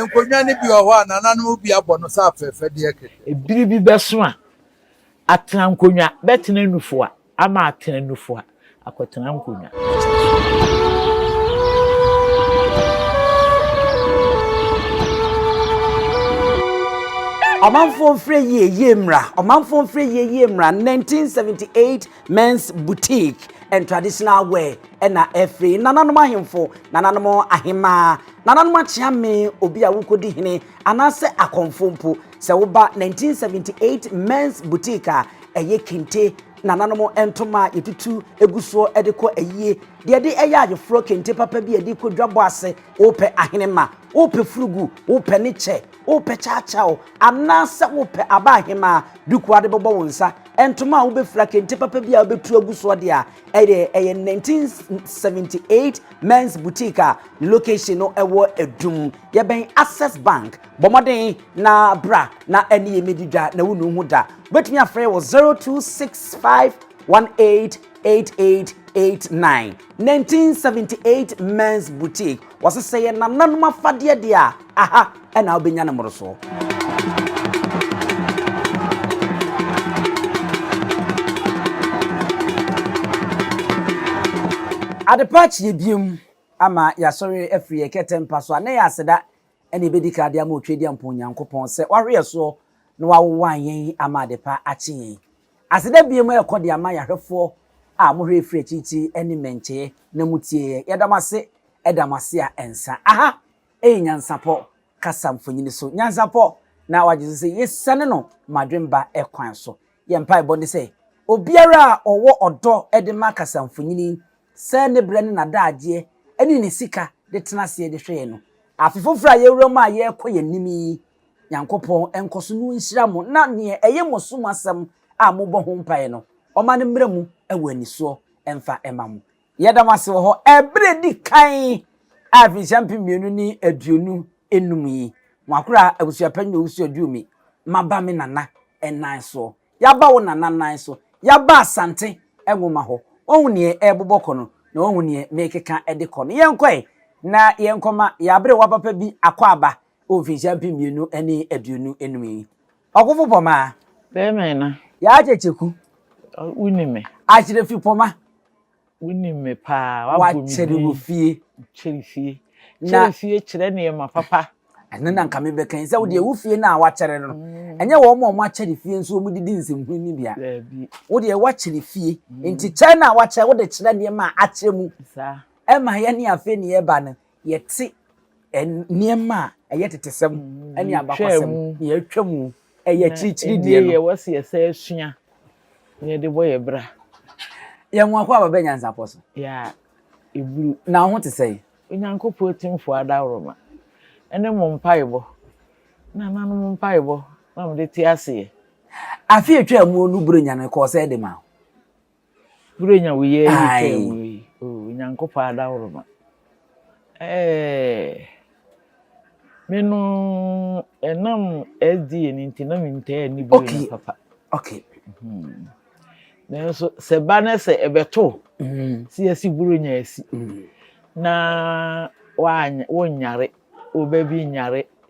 Nkonnwa no bi wɔ hɔ a, nananom bi abɔ no sɛ afɛɛfɛdeɛ kɛkɛ. Bere bi bɛso a, atena nkonnwa bɛtena nufoa ama atena nufoa akɔtena nkonnwa. Ɔmanfoɔ mfrɛ yie yie mmra Ɔmanfoɔ mfrɛ yie yie mmra 1978 Men's Boutique and Traditional Wear ɛna ɛfiri nananom ahemfo, nananom ahemaa, nananom akyeame, obi a wokɔdi hene anaasɛ akɔmfo mpo. Sɛ woba 1978 Men's Boutique a, ɛyɛ kente nananom ntoma a yɛtutu egu soɔ ɛde kɔ ayie, deɛ ɛde ɛyɛ ayeforɔ kente papa bi a ɛde kɔ dwabɔ ase. Wopɛ ahenema, wopɛ furugu, wopɛ ne kyɛ, wopɛ kyaakyaaw, anaasɛ wopɛ aba ahemaa duku a de bɛbɔ wo nsa, Ntoma a wobefura, kente papa bi a wobetu agu so ɔde a ɛyɛ ɛyɛ 1978 men's boutique a ne location no ɛwɔ Adum yɛbɛn Access Bank. Bɔ mmɔden na bra na ɛne yɛn mmedi dwa na wunnu ho da. Wobetumi afrɛ wɔ 026518 8889 1978 Men's Boutique wɔse sɛ yɛ nananom afadeɛ deɛ a aha ɛna wobɛnya ne mmorosoɔ adepa akyeɛ biem ama yɛasɔre afiri yɛ kɛtɛ mpa so a na yɛ aseda ɛne ɛbɛdi ka de ama otwa di ampo onyankopɔn sɛ wahwe yɛ soɔ na wawowa yɛn ama adepa akye yɛn Aseda bio ma ɛkɔ de ama yɛn ahwɛfoɔ a mohwɛɛ firi akyirikyiri ne mmɛnkyɛeɛ na motiee yɛn. Yɛda mo ase da mo ase a ɛnsa. Aha yɛ Nyansapɔ kasa mfonini so. Nyansapɔ na wagye so sɛ yɛsiane no Madwemba kwan so. Yɛn mpaebɔ ne sɛ obiara a ɔwɔ ɔdɔ de ma kasa mfonini sɛ ne berɛ ne n'adagyeɛ ne ne sika de tena aseɛ de hwɛ yɛn no, afe foforɔ a yɛwura mu a yɛrekɔ yɛn anim yi Nyankopɔn nkɔso no nhyira mo na neɛ ɛye mo som asɛm a mobɔ ho mpaeɛ no, Ɔma no mmra mu wɔ anisoɔ mfa mma mo. Yɛda mo ase wɔ hɔ ɛberɛ a ɛdi kan a mfirinhyia mpem mmienu ne aduonu nnum yi, mo akora abusuapɛn ne owusu aduru me, maba me nana nan soɔ. Yaba wo nana nan so. Yaba Asante Nwoma hɔ. Woahu neɛ ɛrebobɔ kɔ no, na woahu neɛ merekeka de kɔ no. Yɛnkɔ ɛ, na yɛnkɔma yɛn aberewa papa bi akɔ aba wɔ mfinhyia mpem mmienu ne aduonu num yi. Ɔkofo Pɔma. Bɛyɛ mɛn na. Yaakyɛ Kyeku. Wo nim me. Akyere fi Pɔma. Wo nim me paa. Wabɔ me bi. Wakyere wɔ fie. Kyere fie. Kyere fie kyerɛ nneɛma papa. Ɛno na nka me bɛ kan. Sɛ wo deɛ wo fie na wakyere no. Ɛnyɛ wɔn a wɔn akyere fie nso wɔn didi nsɛmhunu ni bia. Wo deɛ wakyere fie. Nti kyɛ na wakyɛ wo de kyerɛ nneɛma a akyɛ mu. Ɛma yɛ ne afei ne yɛ ba no. yɛte nneɛma a ɛyɛ tetesɛm ne abakwasɛm na yɛatwa mu ɛyɛ akyirikyiri deɛ no. yɛwɔ sɛ yɛsɛ asua na yɛde bɔ yɛ bra. yɛn ho akɔ aba bɛ nyansapɔ so. yɛ a ɛburu. na ho te sɛe. onyankopɔn atimfoɔ adaworoma ɛne mo mpaebɔ na nanom mpaebɔ na mode te aseɛ. Afe a ɛtwaa mu no Buronya no kɔɔ sɛ de ma. Wura nya woyɛ yi twɛ mu yi. Oh, Nyankopɔn adaworoma. Eh. Me no enam SDA ni nti na me ntaa ni bu okay. papa. Okay. Hmm. Nanso sɛ ba na sɛ ɛbɛto hmm. si asi buro nya asi hmm. na wonyare wo ba bi nyare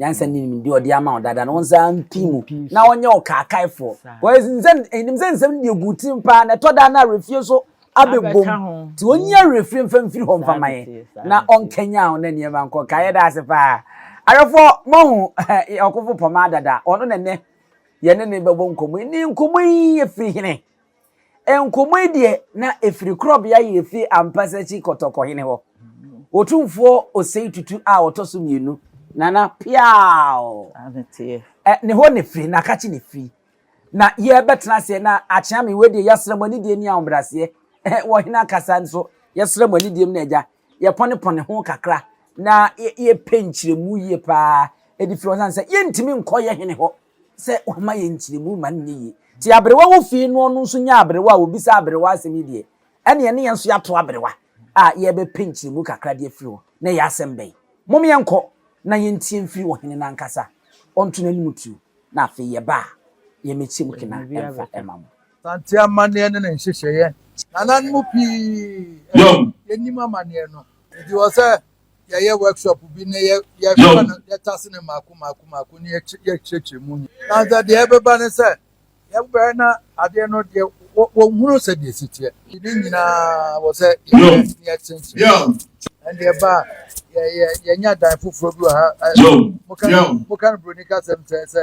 Nyansa ne nimdeɛ a ɔde ama wo dada no, wo nsa mpi mu na ɔnyɛ wo kaakaefoɔ. Nim sɛ nsɛm no deɛ gu tirim paa, na ɛtɔ da no awerɛfie nso abɛbom. Nti ɔnyi awerɛfie mfa mfiri hɔ mfa ma yɛn, na ɔnkanyan wo na nneɛma nkɔ ka. Yɛda ase paa. Awerɛfoɔ, moahu ɔkofo Pomah dada? Ɔno na nnɛ yɛne no bɛbɔ nkɔmmɔ yi. Ne nkɔmmɔ yi firi hene? Nkɔmmɔ yi deɛ na ɛfiri korɔbea yɛ fie ampasa akyi kɔtɔkɔhene hɔ. Otumfoɔ Osei Tutu a ɔtɔ so mmienu, Nana Piaw. Ne hɔ na ɛfiri, na kakye na ɛfiri. Na yɛbɛtena aseɛ na akyea me wei deɛ yɛasra mu anidie ne ahobraseɛ. Wɔ hene akasa nso yɛsra mu anidie mu na agya yɛpɔnepɔne ho kakra na yɛpɛ nkyerɛmu yie paa ɛde firi hɔ sane sɛ yɛntumi nkɔyɛ hene hɔ sɛ wama yɛn nkyerɛmu ma no nyɛ yie. Nti aberewa wɔ fie no ɔno nso nya aberewa a ɔbisa aberewa asɛm yi deɛ, ɛnneɛ ne yɛn nso yɛato aberewa a yɛrebɛpɛ nkyerɛmu kakra de afiri hɔ na ɛyɛ asɛm bɛn? Mom yɛnkɔ na yɛntie mfiri ɔhene no ankasa, ɔnto n'anom tuo na afei yɛba a yɛmmɛkyɛ mu kena mfa mma mo. Asante amanneɛ ne ne nhyehyɛeɛ, nananom pii nnim amanneɛ no. Enti wɔ sɛ. yɛyɛ workshop bi na yɛfa no yɛtase no mmaako mmaako mmaako na yɛkyerɛkyerɛ mu nyɛ na sɛ deɛ ɛbɛba ne sɛ yɛbɛyɛ na adeɛ no deɛ wɔhunu sɛ deɛ ɛsi teɛ ne nyinaa wɔ sɛ yɛkyerɛkyerɛ ɛnde ɛba a yɛnya dan foforɔ bi wɔ ha moka no buroni kasɛm sɛ sɛ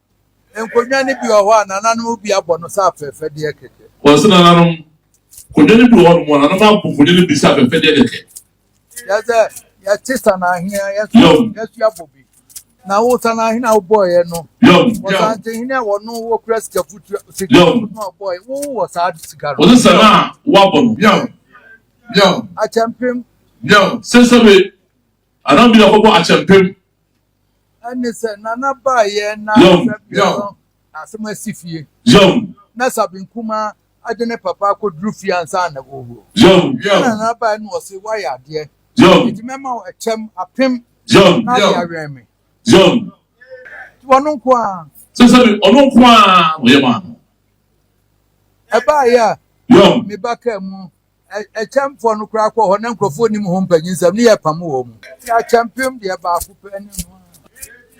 Nkonnwa no bi wɔ hɔ a, nananom bi abɔ no sɛ afɛɛfɛdeɛ kɛkɛ. Wɔse nananom nkonnwa no bi wɔ hɔnom a, nananom abɔ nkonnwa no bi sɛ afɛɛfɛdeɛ kɛkɛ. Kyerɛ sɛ, yɛte sanahene a, yɛso yɛso abɔ bi. Na wo sanahene a wobɔeɛ no, wɔsantehene a wɔno wɔkura sika futu sika futu no a wɔbɔeɛ, wo wɔ saa sika no. Wɔse sana a wɔabɔ no. Yɛw. Yɛw. Akyɛmpem. Yɛw. Sɛsɛbe. Anaa bi na wɔbɔ akyɛmpem. ɛne sɛ nana baayɛ na sabian no asɛm asi fie na sabian kuma agye ne papa akɔduru fie ansa na wɔwuo na nana baayɛ no ɔse woayɛ adeɛ nti mɛma wo ɛkyɛm apem na ade awɛn me ɔno nko a sɛ sɛ ɔno nko a ɔyɛ maa no ɛbaayɛ a meba kaa mu Akyɛmfoɔ no koraa kɔɔ hɔ na nkurɔfoɔ nnim ho mpanyinsɛm ne yɛpam wɔn mu. Ɛte akyɛmpem deɛ baako pɛ ne no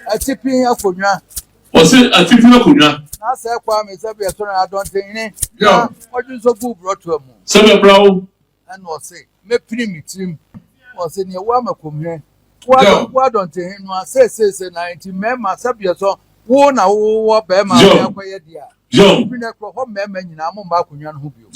a. Atipin akonnwa. Ɔse atipin akonnwa. Na sɛ Kwame sɛbeɛ so na adɔnten hene na ɔdwe nso guu borɔtoa mu. Sɛbeɛ bra wo. Ɛna ɔse mɛpini me tirim. Ɔse neɛ wo ama kɔmhɛ. Woadɔ woadɔ ntehe no a seesei sɛ na nti mmarima sɛbeɛ sɔ wo na wowɔ barima a wode akɔyɛ deɛ a ɛfiri no ɛkorɔ hɔ mmarima nyinaa mo mma akonnwa no ho bio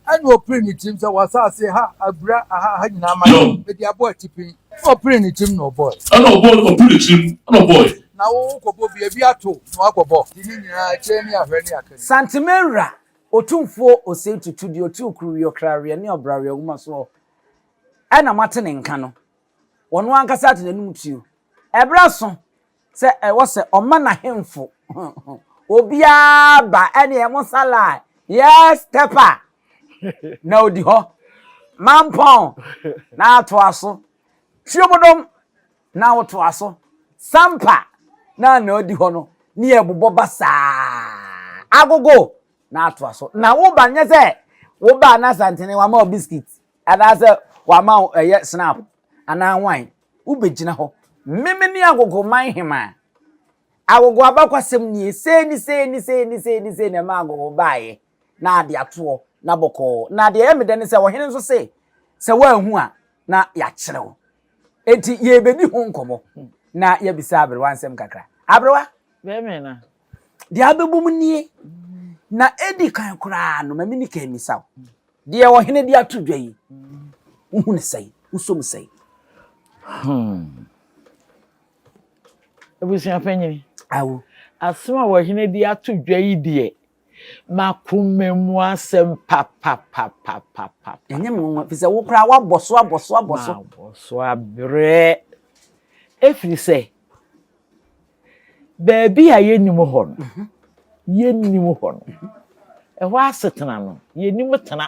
ɛne ɔpere ne tirim sɛ wɔasase ha abura aha ha nyinaa ma mede abɔ atipin na ɔpere ne tirim na ɔbɔe ɛna ɔbɔ ɔpere ne tirim na ɔbɔe na wokɔbɔ bi ebi ato na wakɔbɔ de ne nyinaa akyire ne ahwɛ ne akɛne Santemanwura Otumfuo Osei Tutu deɛ ɔte Okuruweɛ, Okraweɛ ne Ɔbraweɛ Nwoma soɔ ɛna moate ne nka no. wɔn ankasa de n'anom tuo. Ɛberɛ aso sɛ ɛwɔ sɛ ɔma n'ahemfo obiara ba ɛneɛ mo salai yes tɛpa na odi hɔ mampɔn na atoa so tuomodom na wotoa so sampa na na odi hɔ no ne ɛbobɔ ba saa agogo na atoa so na woba nyɛ sɛ woba na santene wama o biscuit Anaasɛ wama wo ɛyɛ snap anaa wan? Wobɛgyina hɔ. Memene agogoman hemaa. Agogo abakwasɛm nie, sei ne sei ne sei ne sei ne sei na ɛma agogo baeɛ, na adeatoɔ, na bɔkɔɔ. Na deɛ ɛyɛ me dɛ ne sɛ ɔhene nso se, sɛ woanhu a, na yɛakyerɛ wo. Enti yɛrebɛdi ho nkɔmmɔ na yɛabisa aberewa nsɛm kakra. Aberewa! Bɛmena, Deɛ abɛbɔ mu nie, na ɛdi kan koraa no, ma me nika mmisa wo, deɛ ɔhene de ato dwa yi, wohu ne sɛn, wosɔ mu sɛn? Hmm. Abusua panyin. Awo. Asɛm a ɔhene de ato dwa yi deɛ, makoma mu asɛm papapapapapa. Ɛnyɛ me nwanwa, fi sɛ wo koraa woabɔ so abɔ so abɔ so. Mabɔ so abrɛ. Ɛfiri sɛ, baabi a yɛnnim hɔ no mhm. yɛnnim hɔ no mhm. ɛhɔ asetena no yɛnim tena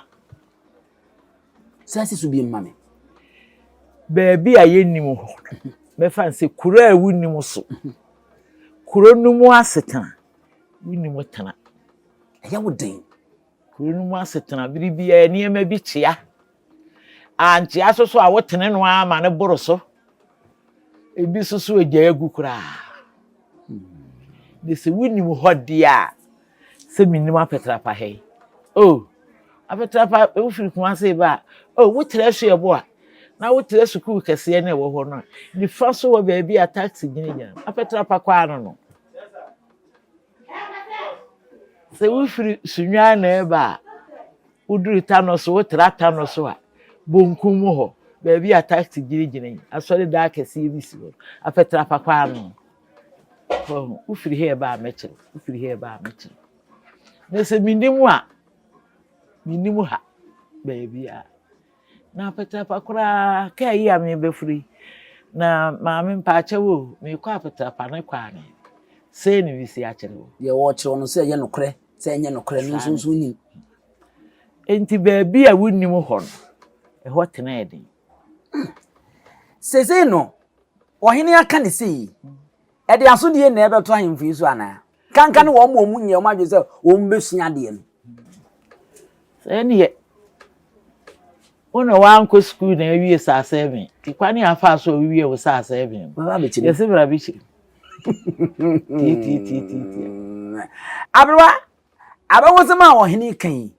saa si so bi mma me baabi a yɛnnim hɔ no mɛfa sɛ kuro a wonim so kuro no mu asetena wonim tena ɛyɛ wo den kuro no mu asetena bere biara nneɛma bi kyea Ankyea so so a wotene no ara ma no boro so. Ebi so so agyae agu koraa. De sɛ wonim hɔ deɛ a, sɛ menim apɛtrapa ha yi. O, apɛtrapa wofiri kuma se ba a, o, wotra su ɛbo a, na wotra sukuu kɛseɛ na ɛwɔ hɔ no a, nifa so wɔ baabi a taxi gyinagyina no, apɛtrapa kɔ ano no. Sɛ wofiri Sunyani na ɛreba a, woduru Tano so, wotra Tano so a, bonkum mu hɔ, baabi a taxi gyinagyina yi, asɔredan kɛseɛ bi si hɔ. Afɛtrapa kwan no. Wahu, wofiri ha ɛba a mɛkyerɛ, wofiri ha ɛba a mɛkyerɛ. Na sɛ menni mu a, menni mu ha baabiara. Na Apatapa koraa kaa yi a merebɛforo yi, na maame mpaakyɛw o, merekɔ Apatapa ne kwaa ne sei ne wisi akyerɛ o. Deɛ wɔrekyerɛ wo no sɛ ɛyɛ nokorɛ sɛ ɛnyɛ nokorɛ no nso nso nim. Enti baabi a wonnim hɔ no, ɛhɔ tenaa den. Seesei no, ɔhene aka ne sei, Ɛde asodie na ɛbɛto ahemfo yi so anaa? Kanka ne wɔn wɔn nyɛ wɔn adwene sɛ wɔn bɛsua adeɛ no. Sɛ neɛ wo na wankɔ sukuu na awie saa sɛven kwan ne afa so a wowie wo saa sɛven yɛse bra bɛkyiri tiatiatiatia aberewa Abakɔsɛm a ɔhene ka yi,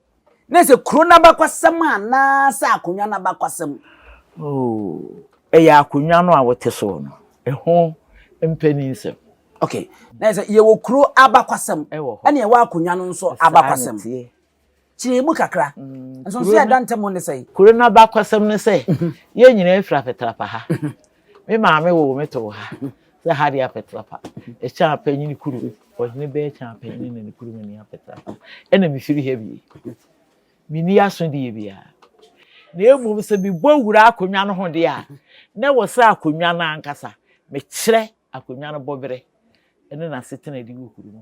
na ɛsɛ kuro no abakɔsɛm anaasɛ akonnwa no abakɔsɛm? Oo, ɛyɛ akonnwa no a wote so no, ɛho mpaninsɛm. Ok, na ɛsɛ yɛwɔ kuro abakɔsɛm, ɛne ɛwɔ akonnwa no nso abakɔsɛm. Kyerɛ mu kakra, mm, nso nso yɛ adantam ne sɛ. Kuro no abakɔsɛm ne sɛ, mhm. yɛn nyinaa firi afetrapa ha, mhm. Me maame woo me too ha sɛ ha deɛ apɛtrapa ɛkyɛn apanyini kuru ɔhene bɛɛ kyɛn apanyini na ne kuru mu ni apɛtrapa ɛna mefiri ha bie menni aso deɛ biara na mmom sɛ mebɔ wura akonnwa no ho deɛ a na wɔ sɛ akonnwa no ankasa mekyerɛ akonnwa no bɔberɛ ɛne n'asetena di wɔ kuru mu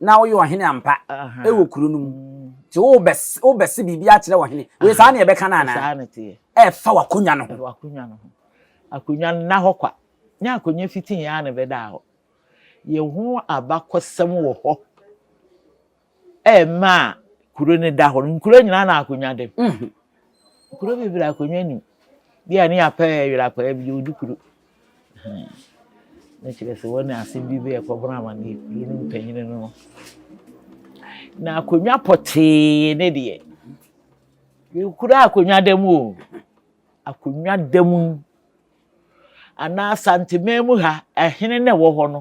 na woyɛ ɔhene ampa wɔ kuro no mu nti wobɛse biribi akyerɛ ɔhene wei saa ne ɛbɛka no anaa ɛfa w'akonwa no ho akonwa no na hɔ kwa nyɛ akonwa fitii a na ɛbɛda hɔ yɛ ho abakɔsɛm wɔ hɔ ɛma a kuro no da hɔ no nkuro nyinaa na akonwa dem mhm. kuro bebree akonwa nim bi a ne apɛ yɛrɛ apɛ bi de odi kuro Na kyerɛ sɛ wɔne asɛm bi bɛyɛ kɔbɔn amane kuro no mpanyin no na akonnwa pɔtee ne deɛ yɛkura akonnwa da mu o akonnwa da mu anaa santeman mu ha ɛhene na ɛwɔ hɔ no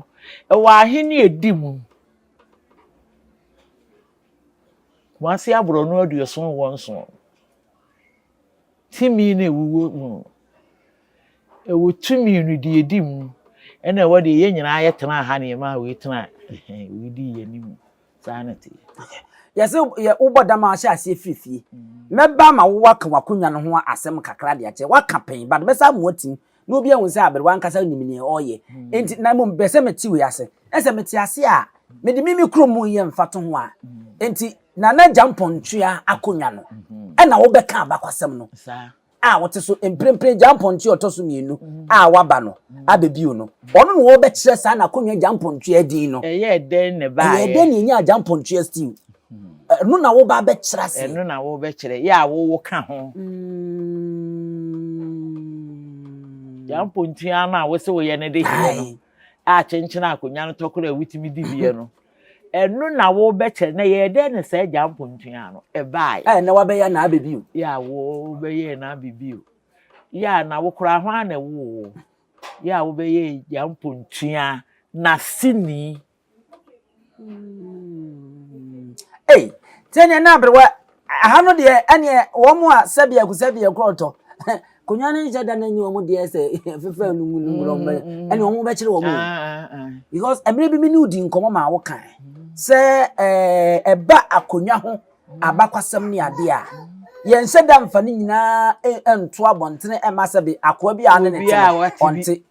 ɛwɔ ahene edi mu kumase aborɔno aduoson wɔn so timi na ewuwo mu. Ɛwɔ tumi no deɛ ɛdi mu ɛna ɛwɔ deɛ yɛn nyinaa yɛ tenaa ha na yɛn maa wei tenaa wei dii yɛn anim saa na ɛte. Yɛsɛ yɛ wobɔ dam a ahyɛ aseɛ firi fie. Mɛba ama wo aka w'akonnwa no ho asɛm kakra de akyerɛ. Woaka pɛn but mɛsa ama woatim na obi ahu sɛ aberewa ankasa nim nea ɔreyɛ nti na mmom bɛ sɛ mɛte wei ase na sɛ mete ase a mede me me kurom mu yɛ mfatoho a nti Nana Gyampɔn tua akonnwa no ɛna wobɛka abakɔsɛm no. a ɔte so mprempren gyampɔntoa ɔtɔ so mmienu a waba no abɛbio no, ɔno na wɔbɛkyerɛ saa n'akonnwa gyampɔntoa din no. Ɛyɛɛ dɛn na ɛbaeɛ? Ɛyɛɛ dɛn na ɛnyaa gyampɔntoa still? Ɛno na woba abɛkyerɛ ase. Ɛno na wobɛkyerɛ, yɛ a wowo ka ho. Gyampɔntoa no a wose woyɛ no de heɛ no a kyenkyen akonnwa no tɔkorɔ a wotumi di bie no. Ɛno na wobɛkyɛ na yɛyɛ dɛn na saa agya mpontua no ɛbaeɛ. Ɛ na wabɛyɛ na abɛ bio. Yɛ a wobɛyɛ na abɛ bio. Yɛ a na wokora hwan na ɛwoo wo. Yɛ a wobɛyɛ agya mpontua na sini. Ei, sɛnea na aberewa Aha no deɛ ɛneɛ wɔn a sɛbiako sɛbiako ɔtɔ konwa no nhyɛ da no nye wɔn deɛ sɛ fefɛ no mu no mu wɔn bɛyɛ ɛne wɔn bɛkyerɛ wɔn mu because ɛmere bi mi ne odi nkɔmɔ ma awo kan sɛ ɛɛ ɛba akonwa ho abakwasɛm ne adeɛ a yɛn nhyɛ da nfa ne nyinaa ɛnto abɔntene ɛma sɛ bi akoa bi a ne ne te ɔnte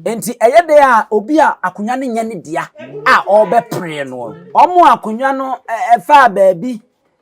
nti ɛyɛ dɛ a obi a akonwa no nyɛ ne dea a ɔbɛpere no wɔn akonwa no ɛfa baabi.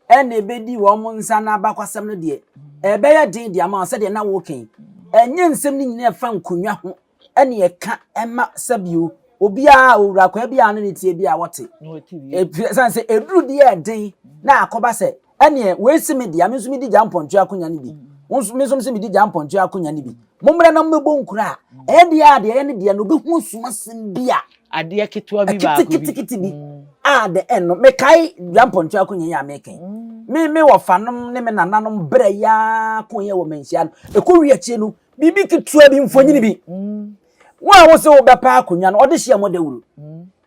ɛnna ebedi wɔn nsa ano abakɔsɛm no deɛ, ɛbɛyɛ den de ama wɔn sɛdeɛ na wɔreka yi. Ɛnyɛ nsɛm no nyinaa ɛfa nkonnwa ho ɛne ɛka ɛma sɛbio obiara owura akwaa bi a no ne tie bi a wɔte. Ɛsan sɛ ɛduru deɛ ɛden na akɔba sɛ ɛneɛ wei se me deɛ me nso medi gya mpɔntwe akonya no bi. Me nso sɛ medi gya mpɔntwe akonya no bi. Mommra na mommɛbɔ nkura a ɛdeɛ a deɛ ɛyɛ ne deɛ no bɛhu ɔsom asɛm bi a adeɛ ketewa bi baako bi kitikiti bi mm. a de ɛno mekae dua mpɔntu akonya yi a meka yi mm. me me wɔfanom ne me nananom berɛ yaa ko yɛ wɔ manhyia no ɛkɔ wi akyire no biribi ketewa bi mfonyini bi mm. wo a wo sɛ wobɛpa akonnwa no ɔde hyia mɔ dawuro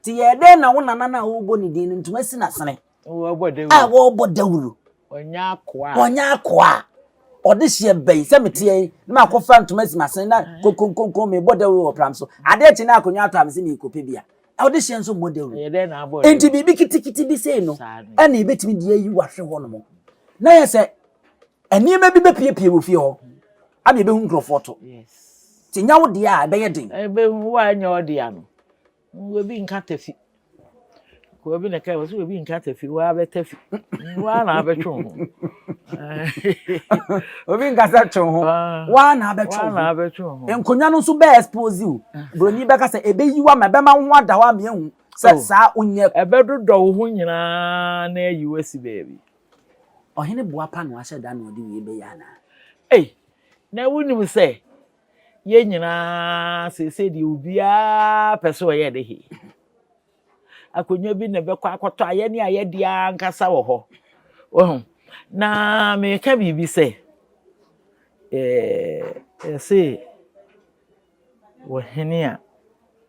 nti yɛɛ dɛn na wo nana no a wobɔ ne din no ntoma si nasene a wɔrebɔ dawuro wɔnyɛ akoa a ɔde hyɛ bɛyi sɛ meteɛ yi na makɔfa ntoma asi m'asen na konkonkonko mebɔ dawuro wɔ pram so adeɛ kye na akonnwa atɔ a mese merekɔpɛ bi a ɔde hyɛ nso mmɔ dawuro enti biribi kitikiti bi sei no ɛna ɛbɛtumi deɛ yi wahwe hɔ nom na yɛ sɛ nneɛma bi bɛpiepie wɔ fie hɔ ama ɛbɛhu nkurɔfoɔ to nti nya wo deɛ a ɛbɛyɛ den ɛbɛhu woanyɛ ɔdeɛ ano Obi nka tafi. Akoa bi na ɛkae wɔ sɛ obi nka tafi waa bɛ tafi waa na abɛtwe ho. Obi nkasa twe ho ah. waa na abɛtwe ho. Nkonnwa no nso bɛɛ expose o. Ah. Buroni bɛka sɛ ebeyi wa ma ɛbɛma ho ada hɔ ama ehu sɛ oh. saa onyɛ. Ɛbɛdodɔ wo ho nyinaa na ayi wo asi baabi. Ɔhene boapa na wahyɛ da na ɔde wie bɛyɛ anaa. Ei na wonim sɛ Yɛn nyinaa seesei deɛ obiara pɛ sɛ ɔyɛ ne he. Akonnwa bi na ɛbɛkɔ akɔtɔ a yɛne a yɛde ankasa wɔ hɔ. Wahu? Na meka biribi sɛ, ɛse wɔhene a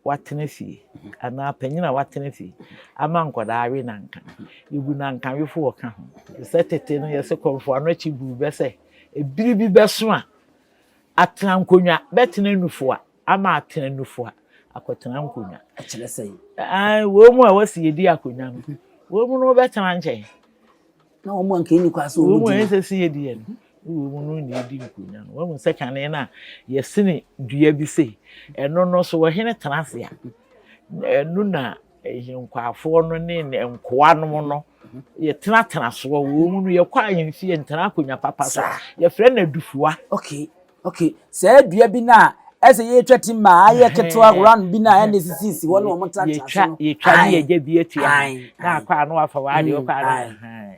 watena fie anaa panyin a watena fie ama nkwadaa awe nanka yɛbu nanka wefo wɔ ka ho sɛ tete no yɛsɛ kɔmfo ano akyi buru bɛsɛ ebiri bi bɛso a Atena nkonnwa, bɛtena nufoa ama atena nufoa, akɔtena nkonnwa. Ɛkyerɛ sɛ. Ɛɛ wɔn mu a wɔsi yɛ di akonnwa no, wɔn mu no bɛtena nkyɛn. Na wɔn mu anka ɛni kɔ ase wɔn mu di. Wɔn mu ɛsɛ si yɛ di yɛ no, wɔn mu no na ɛdi nkonnwa no. Wɔn mu sɛ kane na yɛsini dua bi sei, ɛno no so wɔhene tena ase a, ɛno na Nkwaafoɔ no ne ne nkoa nom no yɛtenatena soɔ wɔ mu no yɛkɔ ahemfie yɛntena akonnwa papa so yɛfrɛ no adufua okay okay saa dua bi no a ɛsɛ yɛtwa ti ma ayɛ ketewa round bi no a ɛne sisisi hɔ ne wɔn tenatena so no yɛtwa ne yɛgya bi atua na akɔ a na wafa wɔ adeɛ ɔkɔ a na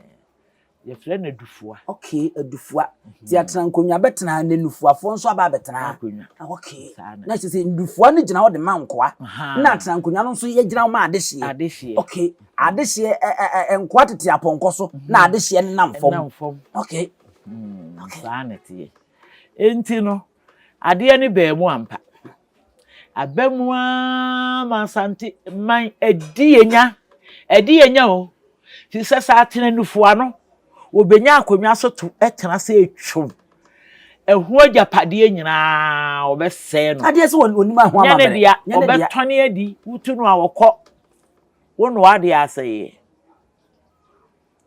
Yɛfrɛ no adufua. Okay, adufua. Mhm. Ti atena nkonnwa bɛtena na nufuafoɔ nso aba abɛtena. Akonnwa. Ah, okay. Na kyerɛ sɛ ndufua no gyina hɔ de ma nkoa. Na atena nkonnwa no nso yɛgyina hɔ ma adehyeɛ. Adehyeɛ. Okay. Mhm. Adehyeɛ ɛ ɛ ɛ nkoa tete apɔnkɔ so mhm. na adehyeɛ no nam fam. Nam fam. Okay. Hmm, okay. Saa na ɛteɛ. Enti no, adeɛ no baa mu ampa. Aba mu ara ma Asante man adi yɛn nya. Adi yɛn nya o. Fi sɛ sɛ atenanufo ano, wɔbɛnya akonnwa so to tena sɛ ɛtwom. Ɛho agyapadeɛ nyinaa wɔbɛsɛe no. Adeɛ sɛ wɔnim aho amammerɛ. Nyɛ ne dea, wɔbɛtɔne adi, wotu no a wɔkɔ. Wo nnoa deɛ asɛeɛ.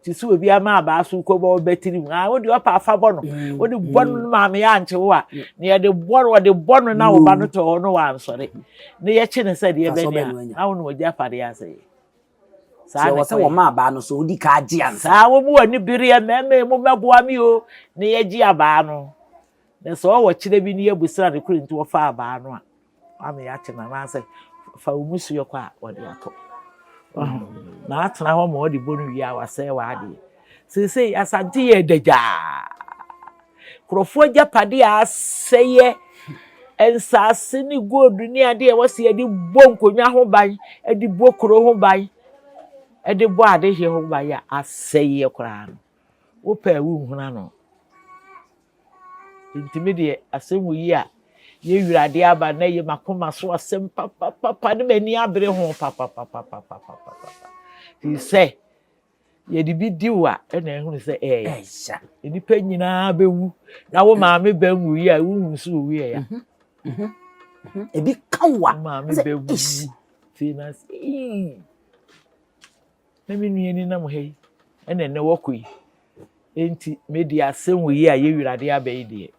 te sɛ obi ama abaa so kɔbɔ wo batiri mu a wode ɔpa afa bɔ no mm, wode bɔ no mm. maame yɛ ankye wo a mm. na yɛde bɔ no ɔde bɔ no na woba no tɔ hɔ no wansɔre na yɛkye no sɛ deɛ bɛne a na wo na ɔgya fadeɛ asɛ yɛ saa ne sɛ wɔma abaa no so wodi ka agye ansa saa wɔmu ani bereɛ mmarima mu mɛboa me o na yɛgye abaa no Na sɛ ɔwɔ kyerɛ bi ne yɛbusra no koro nti wɔfa abaa no a wama yɛate no anaasɛ fa wo musuo kɔ a wɔde atɔ na atena hɔ ma ɔde bɔ no wie a wasɛe w'adeɛ seesei asante yɛ dagyaa nkurɔfoɔ agyapadeɛ a asɛeɛ nsaase ne gold ne adeɛ ɛwɔ se yɛde bɔ nkonnwa ho ban de bɔ kuro ho ban de bɔ adehe ho ban a asɛeɛ koraa no wopɛ a wonhunu ano. Nti me deɛ asɛm wo yi a yɛwiri adeɛ aba na yɛ makoma so asɛm papapapa ne m'ani abere ho papapapapapapapa nti sɛ yɛde bi di wo a ɛna ɛhunu sɛ ɛyɛ nnipa nyinaa bɛwu na wo maame bɛn wo yi a wohunu so owu yɛ ya mhm, mhm, mhm. ebi ka wo a maame bɛwu ti na sɛ Na me nua ni nam ha yi, ɛna ɛnɛ wɔkɔ yi. Enti me deɛ asɛm wɔ yi a yɛ wirade aba yi deɛ.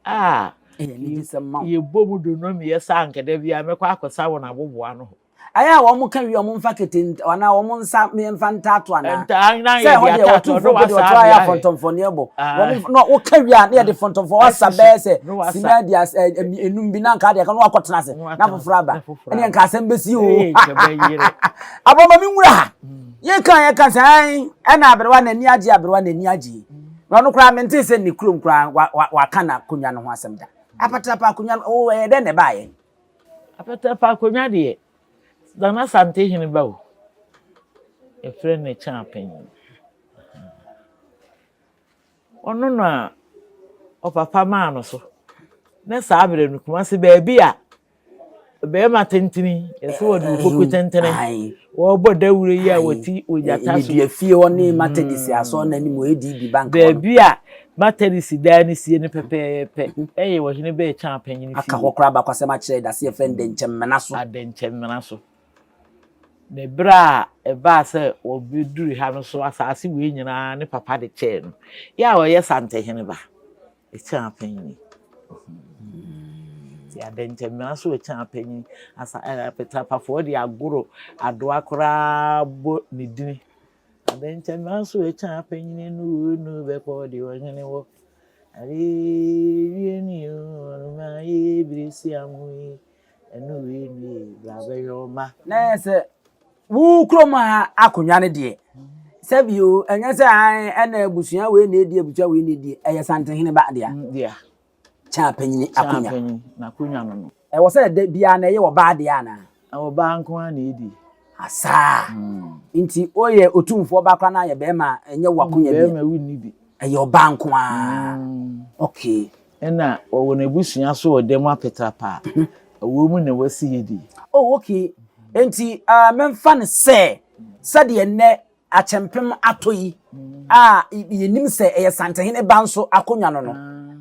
A yɛbɔ mu do nom yɛ sa ankɛdɛ biara mɛkɔ akɔsa wɔn aboboa no hɔ. Ayɛ a wɔn ka wie wɔn mfa kete anaa wɔn nsa mfa ntato anaa. Ntaa na yɛ de atato ɔno wasa abia. Sɛ wɔn ayɛ fɔntɔnfɔn ne ɛbɔ. Wɔn na wɔka wie a na yɛ de fɔntɔnfɔn wasa bɛɛ sɛ sima di as enum bi na nka deɛ ka na wakɔ tena ase na foforɔ aba. Ɛne nka asɛm bɛsi o. Abɔ ma me nwura ha. Yɛn kan yɛn kan sɛ ɛn ɛna aberewa na ani agye aberewa na ani agye. Na ɔno koraa mente sɛ ne kurom koraa wa wa waka na akonnwa no ho asɛm da. Apatrapa akonnwa no o ɛyɛ dɛ na ɛbaayɛ. Apatrapa akonnwa deɛ Nana Sante hene ba o. Yɛfrɛ no Kyapen. Ɔno na ɔpapa maa no so. Ne saa berɛ no, Kumasi baabi a barima tentene, yɛsɛ wɔde okoko tentene, wɔbɔ dawuro yi a wɔti ogyata so. Medua fie hɔ ne Matadisi asɔn no anim wɔ ADB bank hɔ. Baabi a Matadisi dan no sie no pɛpɛɛpɛ yɛ ɔhene Bɛɛkyan panyin fie. Aka hɔ koraa abakɔsɛm akyerɛ dase yɛfrɛ no Dɛnkyɛmmena so. Adɛnkyɛmmena so. Na ɛberɛ a ɛbaa sɛ wɔbɛduruu ha no nso, asaase wei nyina ara ne papa de kyɛɛ no. Yɛ a ɔyɛ Santehene ba, Ekyɛa Panyin. Nti Adɛnkyɛmina nso Ekyɛa Panyin, asa ɛɛ Apetrapafoɔ de Agoro Adoa koraa bɔ ne dini. Adɛnkyɛmina nso Ekyɛa Panyin enu o enu o bɛkɔ deɛ ɔhene wɔ. Adeɛ wie ni o, ɔnomaa yɛ bire siamu yi. Ɛno wei nie bra bɛyɛ wo ma. Na yɛ sɛ wo kurom ha akonnwa no deɛ sɛbi o ɛnyɛ sɛ an ɛna abusua wei na edi abusua wei na edi ɛyɛ santehene ba deɛ. Mm, deɛ. Kyaa panyin akonnwa. Kyaa panyin na akonnwa no no. Ɛwɔ sɛ ɛda biara na ɛyɛ ɔbaa deɛ ana. Ɛwɔ baa nko ara na edi. Asaa. Mm. Nti oyɛ otumfoɔ ba koraa na ayɛ bɛrima ɛnyɛ wakonnwa bi. Bɛrima wi ni bi. Ɛyɛ ɔbaa nko ara. Mm. Okay. Ɛna ɔwɔ n'abusua so wɔ dɛm apɛtaa pa a ɔwɔ mu na wasi yɛ di. Oh okay, enti ah, mɛmfa no sɛ sɛdeɛ nnɛ akyɛmpem atɔ yi a yɛnim sɛ ɛyɛ Santehene ba nso akonnwa no no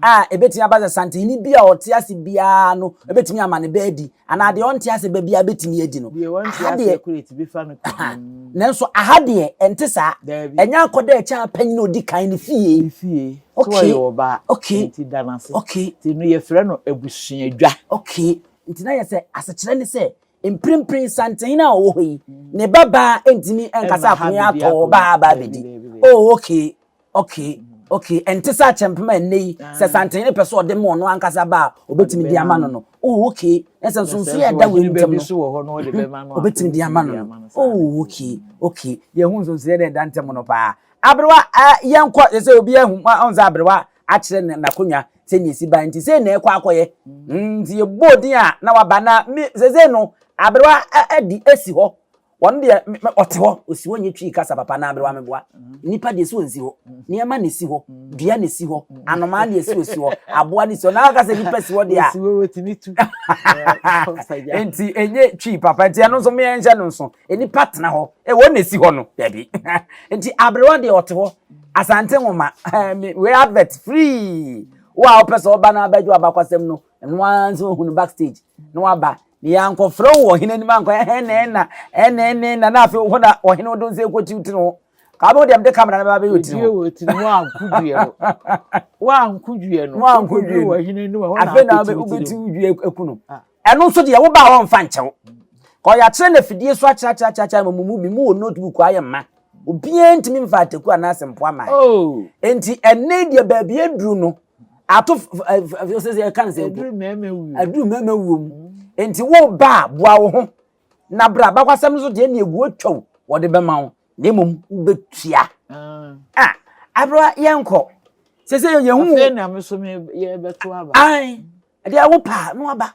a ɛbɛtumi aba sɛ Santehene bi a ɔte ase biara no ɛbɛtumi ama ne ba adi Anaa deɛ ɔnte aseɛ ba biara bɛtumi adi no. Deɛ wante Aha deɛ, aseɛ koraa ti bɛfa no ka. aha. Mm, Nanso aha deɛ, ɛnte saa. Daabi. Ɛnyɛ akɔda ɛkyɛn apanyin a ɔdi kan ne fie. Ne fie. Sɛ Okay. ɔyɛ ɔba a, Okay. nti da no ase. Okay. Nti no yɛfrɛ no abusuadwa. Okay. Nti na yɛ sɛ asekyerɛ ne sɛ mprempren santen a ɔwɔ hɔ yi, ne babaa ntumi nkasa Ɛmma ha akonya biribi atɔ akɔ. ɔbaa baa Daabi, bɛdi. daabi, daabi. Oh, okay. okay okay ɛnte sɛ akyɛmpem a ɛnnɛ yi sɛ santen ne pɛ sɛ ɔde ma ɔno ankasa ba a ɔbɛtumi de ama no no oh okay ɛsɛ nso nso yɛ ɛda wei ntam no ɔbɛtumi de ama no no oh okay okay yɛhu nso nso yɛ dɛ ɛda ntam no paa aberewa yɛnkɔ yɛ sɛ obi ahu ɔn sɛ aberewa akyerɛ ne n'akonnwa sɛ nea esi ban nti sɛ na ɛkɔ akɔyɛ nti yɛbɔ din a na waba na sɛ sɛ no aberewa adi esi hɔ Wɔn deɛ ɔte hɔ osi hɔ nye twi kasa papa na aberewa me boa. Nipa deɛ si hɔ nsi hɔ. Nneɛma na esi hɔ. Dua na esi hɔ. Anomaa deɛ si osi hɔ. Aboa na esi hɔ. Na aka sɛ nipa si hɔ deɛ a. Nti enye twi papa nti ɛno nso meɛ nhyɛ no nso. Nipa tena hɔ. E wɔn na esi hɔ no. Dabi. Nti aberewa deɛ ɔte hɔ. Asante nwoma. Wei advert free. Wo a wopɛ sɛ ɔba na abɛgye wabakwasɛm no ɛno ara nso ohu no backstage na waba na yɛankɔfrɛ wo wɔ ɔhene anim ankɔ ɛhɛn na ɛna ɛna ɛna ɛna na afei hɔ na ɔhene wo de nsa ɛkɔ tiw tiri ho kaa bɛwo deɛ mede kamera no bɛba bɛyɛ ɔtiri ho wɔ tiri mu anko due no wanko due no wanko due wɔ ɔhene anim hɔ na afei na wobɛtiw due ɛku no ah. ɛno nso deɛ wobaa wɔmfa nkyɛw ɔyɛakyerɛ no afidie so akyerɛkyerɛkyerɛ ma mu bi mu wɔ notebook ayɛ mma obiara ntumi mfa ataku anaasɛ mpoa ma oh. enti ɛne deɛ baabi aduru no ato sɛ sɛ ɛka ne sɛ mpo aduru mmarima wuo mu nti wo ba a boa wo ho na berɛ a bakwasɛm nso deɛ ne ɛguo twaw wɔde bɛma wo na mmom wobɛtua a aberɛ yɛnkɔ sɛ sɛ yɛhu afei na me so yɛbɛto aba ɛdeɛ a wopɛ a na waba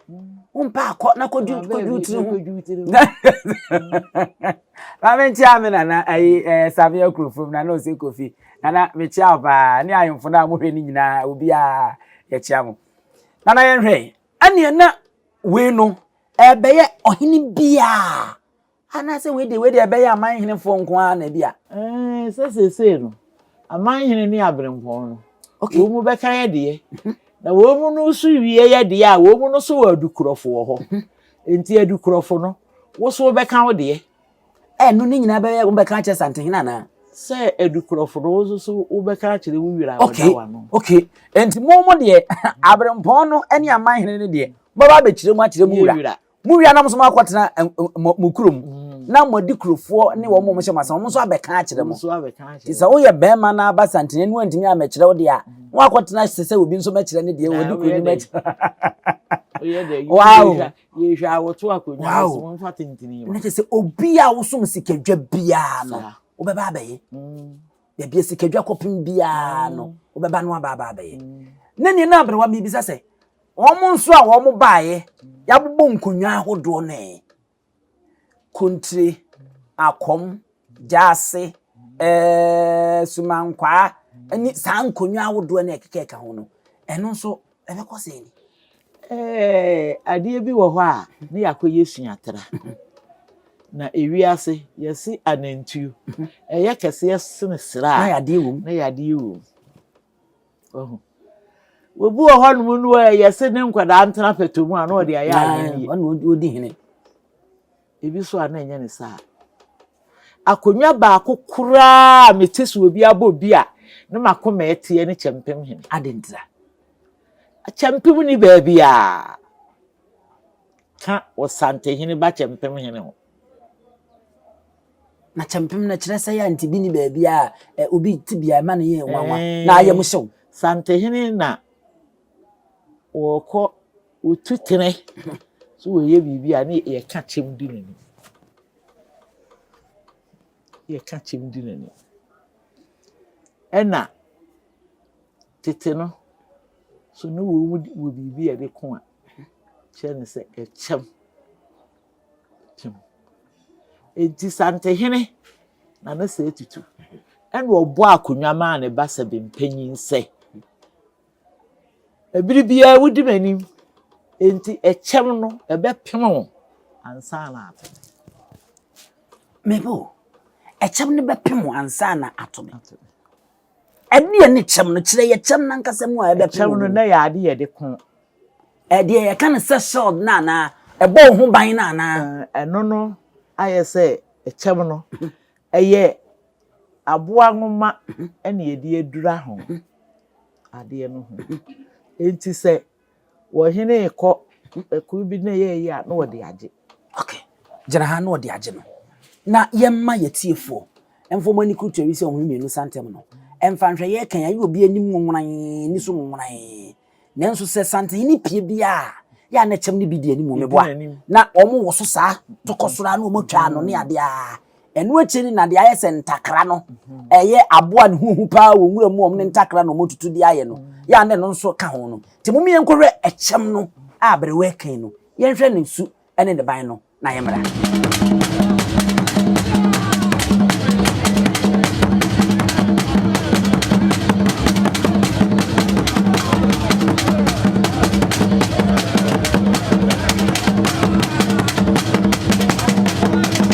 wompɛ a kɔ na kɔdwudwudwu tiri ho maame nkyia me nana ayi ɛɛ samia kurofom nana ose kofi nana mekyia wo paa ne ahemfo no a mohwɛ no nyinaa obiara yɛkyia mo nana yɛnhwɛ ɛneɛ na wei no ɛbɛyɛ ɔhene biara Anaasɛ wei deɛ wei deɛ ɛbɛyɛ amanhenefoɔ nko ara na ebi a. Ɛɛ sɛ seesei no amanhene ne abirempɔn no okay. wɔn mu bɛka yɛ deɛ mhm. na wɔn mu no so wie yɛ deɛ a wɔn mu no so wɔ adukurɔfo wɔ hɔ mhm. nti adukurɔfo no woso bɛka wo deɛ. ɛno ne nyinaa bɛyɛ wobɛka akyerɛ santehene anaa sɛ adukurɔfo no wo nso so wobɛka akyerɛ wo wira a wɔda wa no okay nti mo mo deɛ aberempɔn no ne amanhene no deɛ mobɛba abɛkyerɛ mu akyerɛ mu wura Mo nuanom nso moakɔtena mo kurom mm. na mo adi kurofoɔ ne wɔn mo hyɛ mo asɛm wɔn nso abɛka akyerɛ mo. Nti sɛ woyɛ bɛrima na aba santene no antumi amɛkyerɛ wo deɛ a mm. na wakɔtena sɛ sɛ obi nso mɛkyerɛ ne deɛ wɔdi kuro no mɛkyerɛ. Wow. Yɛhwɛ awɔto akonnwa no so wɔn fa tentene. Na kyerɛ sɛ obi a wosom sikadwa biara no wobɛba abɛyɛ. Mm. Baabi a sikadwa kɔpem biara no wobɛba no aba aba abɛyɛ. Na nea na abere wa mebisa sɛ Wɔn nso a wɔn baeɛ, yɛabobɔ nkonnwa ahodoɔ no ɛ. Kontire, akɔm, gyaase, eh, sumankwaa, ne saa nkonnwa ahodoɔ no ɛkekɛka ho no, ɛno nso ɛbɛkɔ sɛ ni. Eh, adeɛ bi wɔ hɔ a ne yɛakɔyɛ suatra. Na ewiase yɛse anantuo, ɛyɛ kɛseɛ sene sraa na yɛadeɛ wom. Wahu. Obi wɔ hɔ nom no a yɛse ne nkwadaa ntena pɛtɔ mu a na ɔde ayɛ ahene. Ɔne ɔdi hene. Ebi so a na ɛnyɛ ne saa. Akonnwa baako koraa a mete so obi abɔ bi a ne mako ma ɛteɛ ne kyɛmpem hene. Ade ntira. Kyɛmpem ni baabi a ka wɔ santehene ba kyɛmpem hene ho. Na kyɛmpem no kyerɛ sɛ yɛ nti bi ni baabi a ɛ obi ti bia ɛma no yɛ nwanwa na ayɛ mu hyew. Santehene na wɔkɔ wɔtu tene so wɔyɛ biribi a ne yɛka kyɛm di n'ani yɛka kyɛm di n'ani ɛna tete no so ne wɔn wɔ biribi a ɛde ko a kyerɛ ne sɛ ɛkyɛm. Kim. Enti Santehene, na ne sɛɛ tutu, ɛna ɔbɔɔ akonnwa maa ne ba Sɛbempanyin sɛ, Bere biara wudi m'anim, enti ɛkyɛm no ɛbɛpem wo ansa na ato me. Mebo, ɛkyɛm no bɛpem wo ansa na ato me. Ɛdeɛ ne kyɛm no? Kyerɛ yɛ kyɛm no ankasa mu a ɛbɛko wɔ mu. Ɛkyɛm no, na ɛyɛ ade yɛde ko. Ɛdeɛ yɛka no sɛ shield no anaa? Ɛbɔ wo ho ban no anaa? Ɛno no ayɛ sɛ ɛkyɛm no. Ɛyɛ aboa nwoma na yɛde adura ho adeɛ no ho. Enti sɛ. Wɔhenee kɔ kuw bi na yɛɛye a na wɔde agye. Ok gyina ha na wɔde agye no na yɛmma yɛtiefoɔ mfa wɔn ani kurutua wi sɛ wɔn mmienu sa ntɛm no mfa nhwɛ yɛɛkan ayɛ obi anim nwonwonan ne so nwonwonan nanso sɛ santehene pie biara a yɛ a na kyɛm no bi di anim meboa na wɔn wɔ so saa tokɔ soro a na wɔn atwa ano ne adeɛ a Ɛno akyi no na deɛ ayɛ sɛ ntakra no ɛyɛ aboa ne ho hu paa wɔ nwura mu wɔn ne ntakra na wɔn tutu de ayɛ no yɛ a na ɛno nso ka ho no nti mo yɛn nkɔhwɛ ɛkyɛm no a aberewa ɛkan no yɛnhwɛ ne su ne ne ban no na yɛn mmra.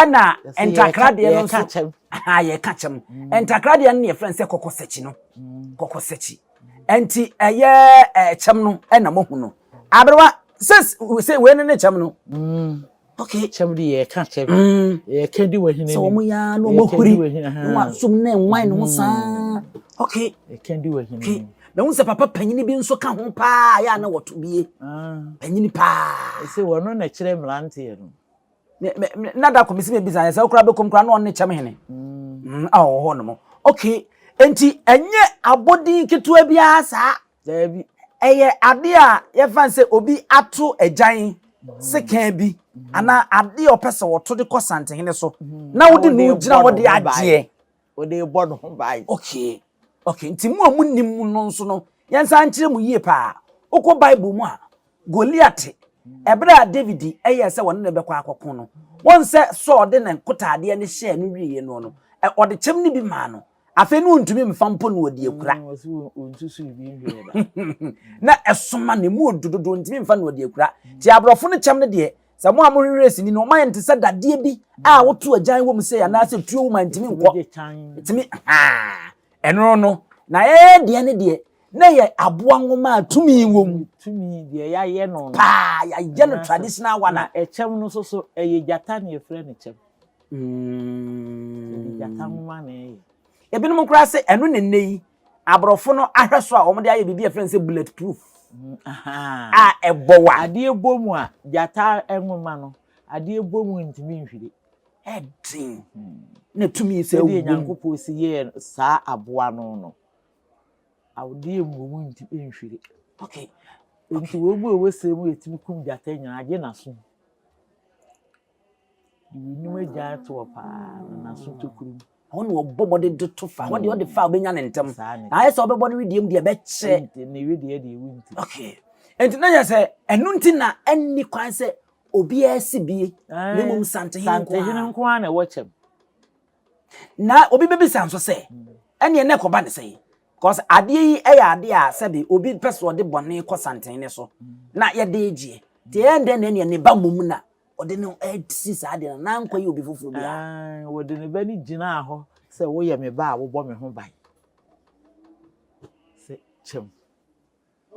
ɛna ntakradeɛ no nso yɛka kyɛm ntakradeɛ no ne yɛfrɛ no sɛ kɔkɔsakyi no mm. kɔkɔsakyi nti ɛyɛ ɛkyɛm no ɛna mohu no aberewa sɛ sɛ wei no ne kyɛm no mm. okay kyɛm de yɛka kyɛm mm. yɛka di wɔ hene sɛ wɔn yɛ na wɔn ahuri na wɔn asom na nwan no saa okay yɛka di wɔ hene na wọn sɛ papa panyin bi nso ka ho paa yɛ a na wɔto bie ah. panyin paa ɛsɛ wɔn no na ɛkyerɛ mmeranteɛ no me me me na da kɔ mesi me bisa sɛ okura bɛkɔm kura na ɔne kyɛm hene mm. a ɔwɔ hɔ nom okay nti ɛnyɛ abɔden ketewa biara saa daabi ɛyɛ ade a yɛfa sɛ obi ato agyan sekan bi anaa ade a ɔpɛ sɛ wɔto de kɔ santehene so na wode no gyina hɔ de agyeɛ Ɔde rebɔ ne ho ban. Okay. Okay. Nti mo a monim mu no nso no, yɛnsa nkyerɛ mu yie paa. Wokɔ Bible mu a, Goliat, ɛberɛ a David yɛɛ sɛ wɔne no bɛkɔ akɔko no, wɔn sɛ Saul de ne nkotaadeɛ no hyɛɛ no wieɛ no no, ɔde kyɛm no bi maa no. Afei no ɔntumi mfa mpo na ɔde akura. Na ɛsoma no, ɛmu ɔdu dodo, ɔntumi mfa na ɔde akura. Nti aborɔfo no kyɛm no deɛ, Sɛ mo a mohwehwɛ sini no, ɔmayɛ no te sɛ dadeɛ bi a woto agyan wɔ mu sei anaasɛ tuo wɔ mu a ntumi nkɔ. Ɛtumi haa. Ɛno no, na ɛyɛ deɛ ne deɛ, na ɛyɛ aboa nwoma a tumi wɔ mu. Tumi deɛ yɛayɛ no no. Paa, yɛayɛ no traditional one. Na ɛkyɛm no nso so, ɛyɛ gyata na yɛfrɛ no kyɛm. Ɛde gyata nwoma na ɛyɛ. Ebinom koraa sɛ ɛno na nnɛ yi Aborɔfo no ahwɛso a wɔde ayɛ biribi a yɛfrɛ no sɛ bullet proof a ɛbɔ wa. Adeɛ bɔ mu a, gyata nwoma no, adeɛ bɔ mu ntumi nhwiri. Ɛden na tumi sɛ wɔ mu. Ɛdeɛ Nyankopɔn si yɛɛ saa aboa no no, adeɛ bɔ mu ntumi nhwiri. Okay. Nti wɔn mu a wɔsɛ mu yɛtumi kum gyata nyinaa, agye n'aso. Eyinom agya to hɔ paa na n'aso tokuru mu. Ɛhɔ na ɔbɔ mmɔden de to fa. Ɛhɔ deɛ ɔde fa a ɔbɛnya ne ntɛm. Na ayɛ sɛ ɔbɛbɔ ne wedeɛ mu deɛ ɛbɛkyɛ. Ne wedeɛ deɛ ewu nti. Okay. Nti na yɛ sɛ ɛno nti na ɛnni kwan sɛ obiara si bie. Na mmom santehene nko ara. Santehene nko ara na ɛwɔ kyɛm. Na obi bɛbisa nso sɛ ɛneɛ na ɛkɔba ne sɛ yi. Because adeɛ yi yɛ adeɛ a sɛbe obi pɛ sɛ ɔde bɔne kɔ santehene so na yɛde gyeɛ. Nti ɛyɛ dɛn na ɛneɛ ne ba mmom na Ɔde ne ho asi saa adeɛ no, n'ankɔ yɛ obi foforɔ bi a. Aane, ɔde ne ba no gyinaa hɔ sɛ, Woyɛ me ba a wobɔ me ho ban. Sɛ kyɛm.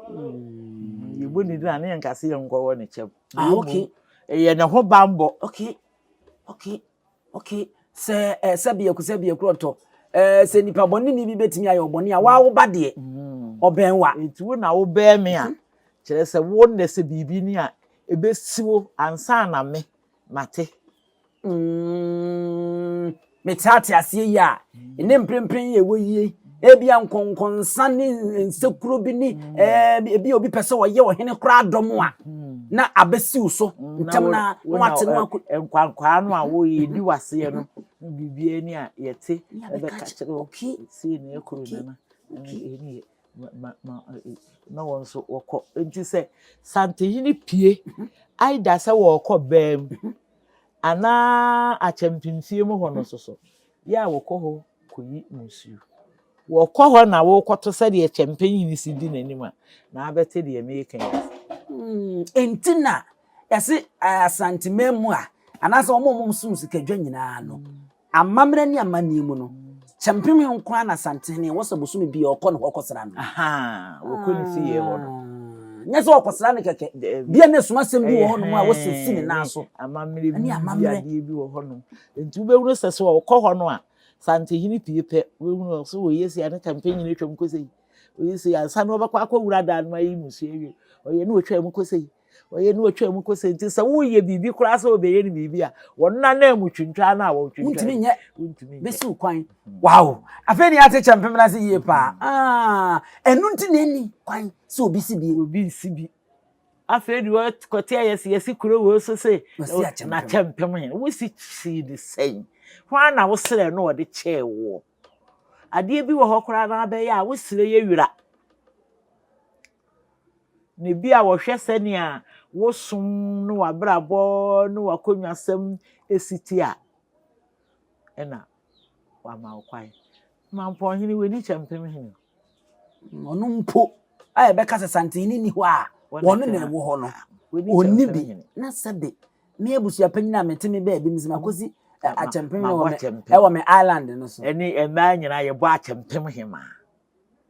Mm, yɛbɔ ne din a ne yɛnka sɛ yɛnkɔwɔ ne kyɛm. Ah, okay. Ɛyɛ ne ho banbɔ. Okay, okay. Okay, sɛ eh, sɛ biaku sɛ biakurɔ ntɔ eh, sɛ nipa bɔne ni bi bɛtumi ayɛ ɔbɔne a waa woba deɛ mm. ɔbɛn wa nti wo na wobɛn me a kyerɛ sɛ wo nnɛ sɛ biribi ni a ɛbɛsi wo ansa na me mate mm, mete ate aseɛ yi a ɛne mprempren yɛ wɔ yie Ebia nkɔnkɔnsa ne nsekuro bi ne mm. ebi obi pɛ sɛ ɔyɛ ɔhene koraa dɔm a mm. na abɛsiw so mm, ntɛm na na wate no ako. nkwankwaa no a wɔyɛdi waseɛ no biribiara ni a yɛte ɛbɛka kyerɛ wo sie ne akuro nana ɛni yɛ na wɔn nso wɔkɔ nti sɛ santehene pie mhm. aida sɛ wɔrekɔ bɛɛm mhm. anaa akyɛmpemfie mu hɔ no soso Yɛ a wɔkɔ hɔ kɔyi nsuo. Wɔkɔ hɔ na wokɔto sɛdeɛ kyɛmpɛnyini si di n'anim a, na abɛte deɛ meka yi. Enti na yɛse Asanteman mu a, anaasɛ wɔn a wɔn som sikadwa nyinaa no, amammerɛ ne amanneɛ mu no, kyɛmpem nko ara na Asantehene wɔ sɛ bosome bi a ɔkɔ ne hɔ kɔsra no. Wɔkɔ ne fie hɔ no. Nyɛ sɛ ɔkɔsra no kɛkɛ. Bia na ɛsom asɛm bi wɔ hɔnom a wɔsɛ si ne nan so. Amammerɛ bi, adeɛ bi wɔ hɔnom. Enti wobɛhunu sɛ sɛ ɔkɔ hɔ no a, Santehene pie pɛ, wobɛhunu no so ɔyɛ sei a ne campaign nyina atwam kɔ sei, ɔyɛ sei ansa na ɔbɛkɔ akɔwura dan no ayɛ mmusua awie, ɔyɛ ne ɔtwaa mu kɔ sei, ɔyɛ ne ɔtwaa mu kɔ sei. Nti sɛ woyɛ biribi koraa sɛ ɔbɛyɛ no biribi a, wɔn nanaa mu twintwaa no a wɔtwintwaa. Wontumi nyɛ. Wontumi nyɛ. Bɛsi wo kwan. Wow! Afei ne ate kyɛ mpem no ase yie paa. Ah, ɛno nti na ɛni kwan sɛ obi si bi. Obi nsi bi. Afei de ɔkɔteɛɛ yɛ se, Yɛse kuro wei so se n'akyɛmpem he. Wose kyii no sɛn? Hwaa na woserɛɛ na ɔde kyɛɛ woɔ? Adeɛ bi wɔ hɔ koraa na abɛyɛ a wosere yɛ wira. Na ebia wɔhwɛ sɛnea wo som ne w'abrabɔ ne w'akonnwasɛm si te a, ɛna Wama wo kwan. Mampɔn hene, w'ani kyɛ mpem hene. Ɔno mpo a ɛbɛka sɛ santene nni hɔ a wɔne na ɛwɔ hɔ no, ɔnni bi. Na sɛbe me abusua panyin a mete me baabi mese makɔsi akyɛmpem ɛwɔ me island no so. Ɛne mmaa nyinaa yɛbɔ akyɛmpem hema.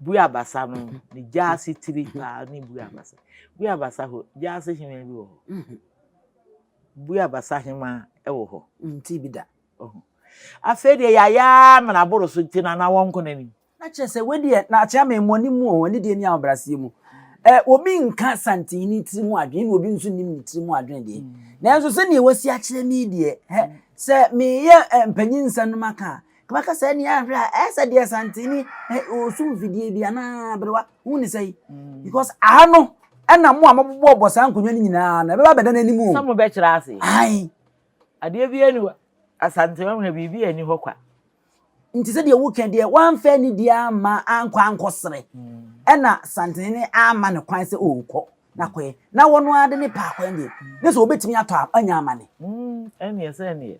Buiabasa no ne gyaase tiri paa ne Buiabasa. Buiabasa hɔ, gyaase hema bi wɔ hɔ. Mhm. Buiabasa hema wɔ hɔ. Nti bi da. Afei deɛ yɛayɛ amena aboro so nti na na wɔnko n'anim. Na kyerɛ sɛ wedeɛ na akyerɛ ama mmɔne mu o, ne deɛ ni ahobrɛaseɛ mu. Ɛ obi nka santini tiri mu adwene na obi nso nim ne tiri mu adwene deɛ. Mm. Nanso sɛdeɛ wasi akyerɛ me deɛ, hɛ, mm. sɛ meyɛ mpanyin nsa no maka a, Wobɛka sɛ ɛne ahwɛ a ɛyɛ sɛ deɛ santene ɔso mfidie bi anaa berewa ho ne sɛ yi mm. because aha no ɛna mo a mobobɔ bɔ saa nkonnwa no nyinaa na ɛbɛba bɛda no anim o sɛ mobɛkyerɛ ase ae adeɛ bi ani asante ɔhwɛ biribi ani hɔ kwa nti sɛ deɛ woka deɛ woamfa ani deɛ ama ankɔ ankɔ sere mm. ɛna santene ne ama no kwan sɛ ɔrekɔ na kɔɛ na wɔn ara de ne paakwan deɛ ne sɛ wɔbɛtumi atɔ anya amane mm, ɛneɛ sɛ ɛneɛ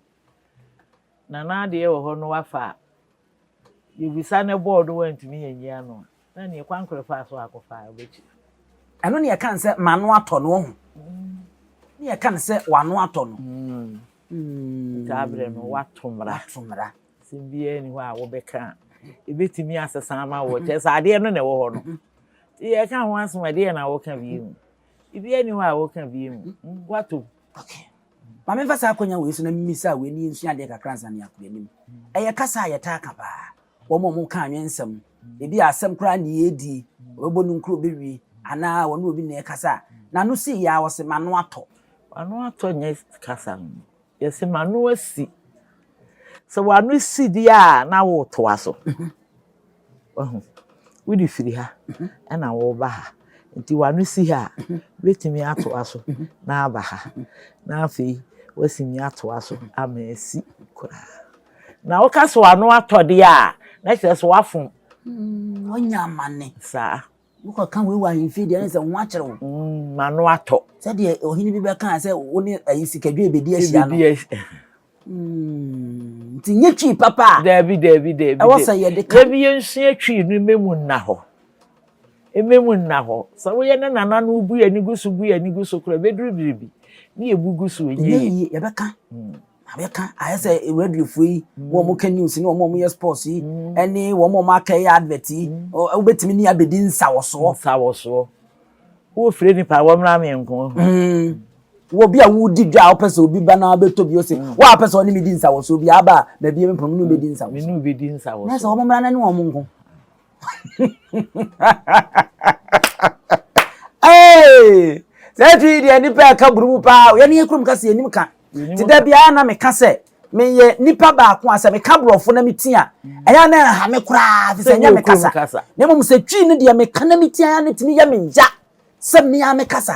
Na na adeɛ wɔ hɔ no wafa a, yɛbisa no bɔɔ do wantumi anyi ano a, na ɛneɛ kwan korɛ faa so akɔfa a, ɔbɛkyiri. Ɛno ne yɛka no sɛ m'ano atɔ no, woahu? Ne yɛka no sɛ w'ano atɔ no. Saa berɛ no woato mmara. Woato mmara. Asɛm biara nni hɔ a wobɛka a, ɛbɛtumi asesa ama wo. Kyerɛ sɛ adeɛ no na ɛwɔ hɔ no. Nti yɛka ho asɛm a, ɛdeɛn na woka bio? Biribiara nni hɔ a woka bio. Woatom. Okay. Ma memfa saa akwannya wei so na mimmisa wei na yensua adeɛ kakra ansa na yɛakɔ yɛn anim. Ɛyɛ kasa a yɛtaa ka paa. Wɔn a wɔka anwensɛm, ebia asɛm koraa na yɛredi, wɔbɛbɔ no nkuro bɛwi, anaa wɔne obi na ɛrekasa a, n'ano si yɛ ara, wɔse, M'ano atɔ. W'ano atɔ nyɛ kasa no. Yɛse, M'ano asi. Sɛ w'ano si deɛ a, na woretoa so. Wahu? Wode firi ha ɛna woreba ha. Nti w'ano si ha a, wobɛtumi atoa so na aba ha. Na afei woatumi atoa so ama asi koraa. Na woka sɛ w'ano atɔ deɛ a, na kyerɛ sɛ woafom. Mm, ɔnya amane. Saa. Wokɔka wei wɔ ahemfie deɛ ne sɛ wo ho akyere wo. Mm, ma no atɔ. Sɛdeɛ ɔhene bi bɛkaa sɛ wo ne ayi sikadwe bɛdi ahyia no. Mm, nti nyɛ twi papa a. Daabi daabi daabi. Ɛwɔ sɛ yɛde ka. Daabi yɛnsua twi no mmɛmu nna hɔ. Mmɛmu nna hɔ. Sɛ woyɛ ne nana no wobu yɛ ani gu so bu yɛ ani gu so koraa bɛduru biribi ne yɛbu gu so ɛnyɛ yie. Yɛbɛka. Mm. Abɛka ayɛ sɛ radiofoɔ yi wɔn a wɔka news ne wɔn a wɔyɛ sports yi ɛne mm. wɔn a wɔaka yɛ advert yi mm. wobɛtumi ne abɛdi nsawɔsoɔ nsawɔsoɔ wofire nipa wɔmmra me nko mm. wɔ bi a wodi dwa a wopɛ sɛ obi ba na wabɛtɔ bi ose woa wopɛ sɛ ɔne medi nsawɔsoɔ bi aba a baabi a mepam ne wobɛdi nsawɔsoɔ ne wobɛdi nsawɔsoɔ na sɛ wɔmmra no ne wɔn nko ee saa twi yi deɛ nipa ɛka buru mu paa yɛn yɛ kurom kasa yɛn nim ka ti da biara na meka sɛ meyɛ nipa baako a sɛ meka borɔfo na meti a ɛyɛ na ɛha me koraa fi sɛ nyɛ me kasa na mmom sɛ twi no deɛ meka na meti a ne tumi yɛ me ya sɛ mmea me kasa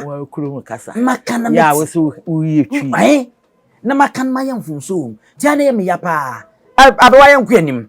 maka na meti na maka no mayɛ mfomso wɔ mu tia na yɛ me ya paa abɛwa yɛ nko anim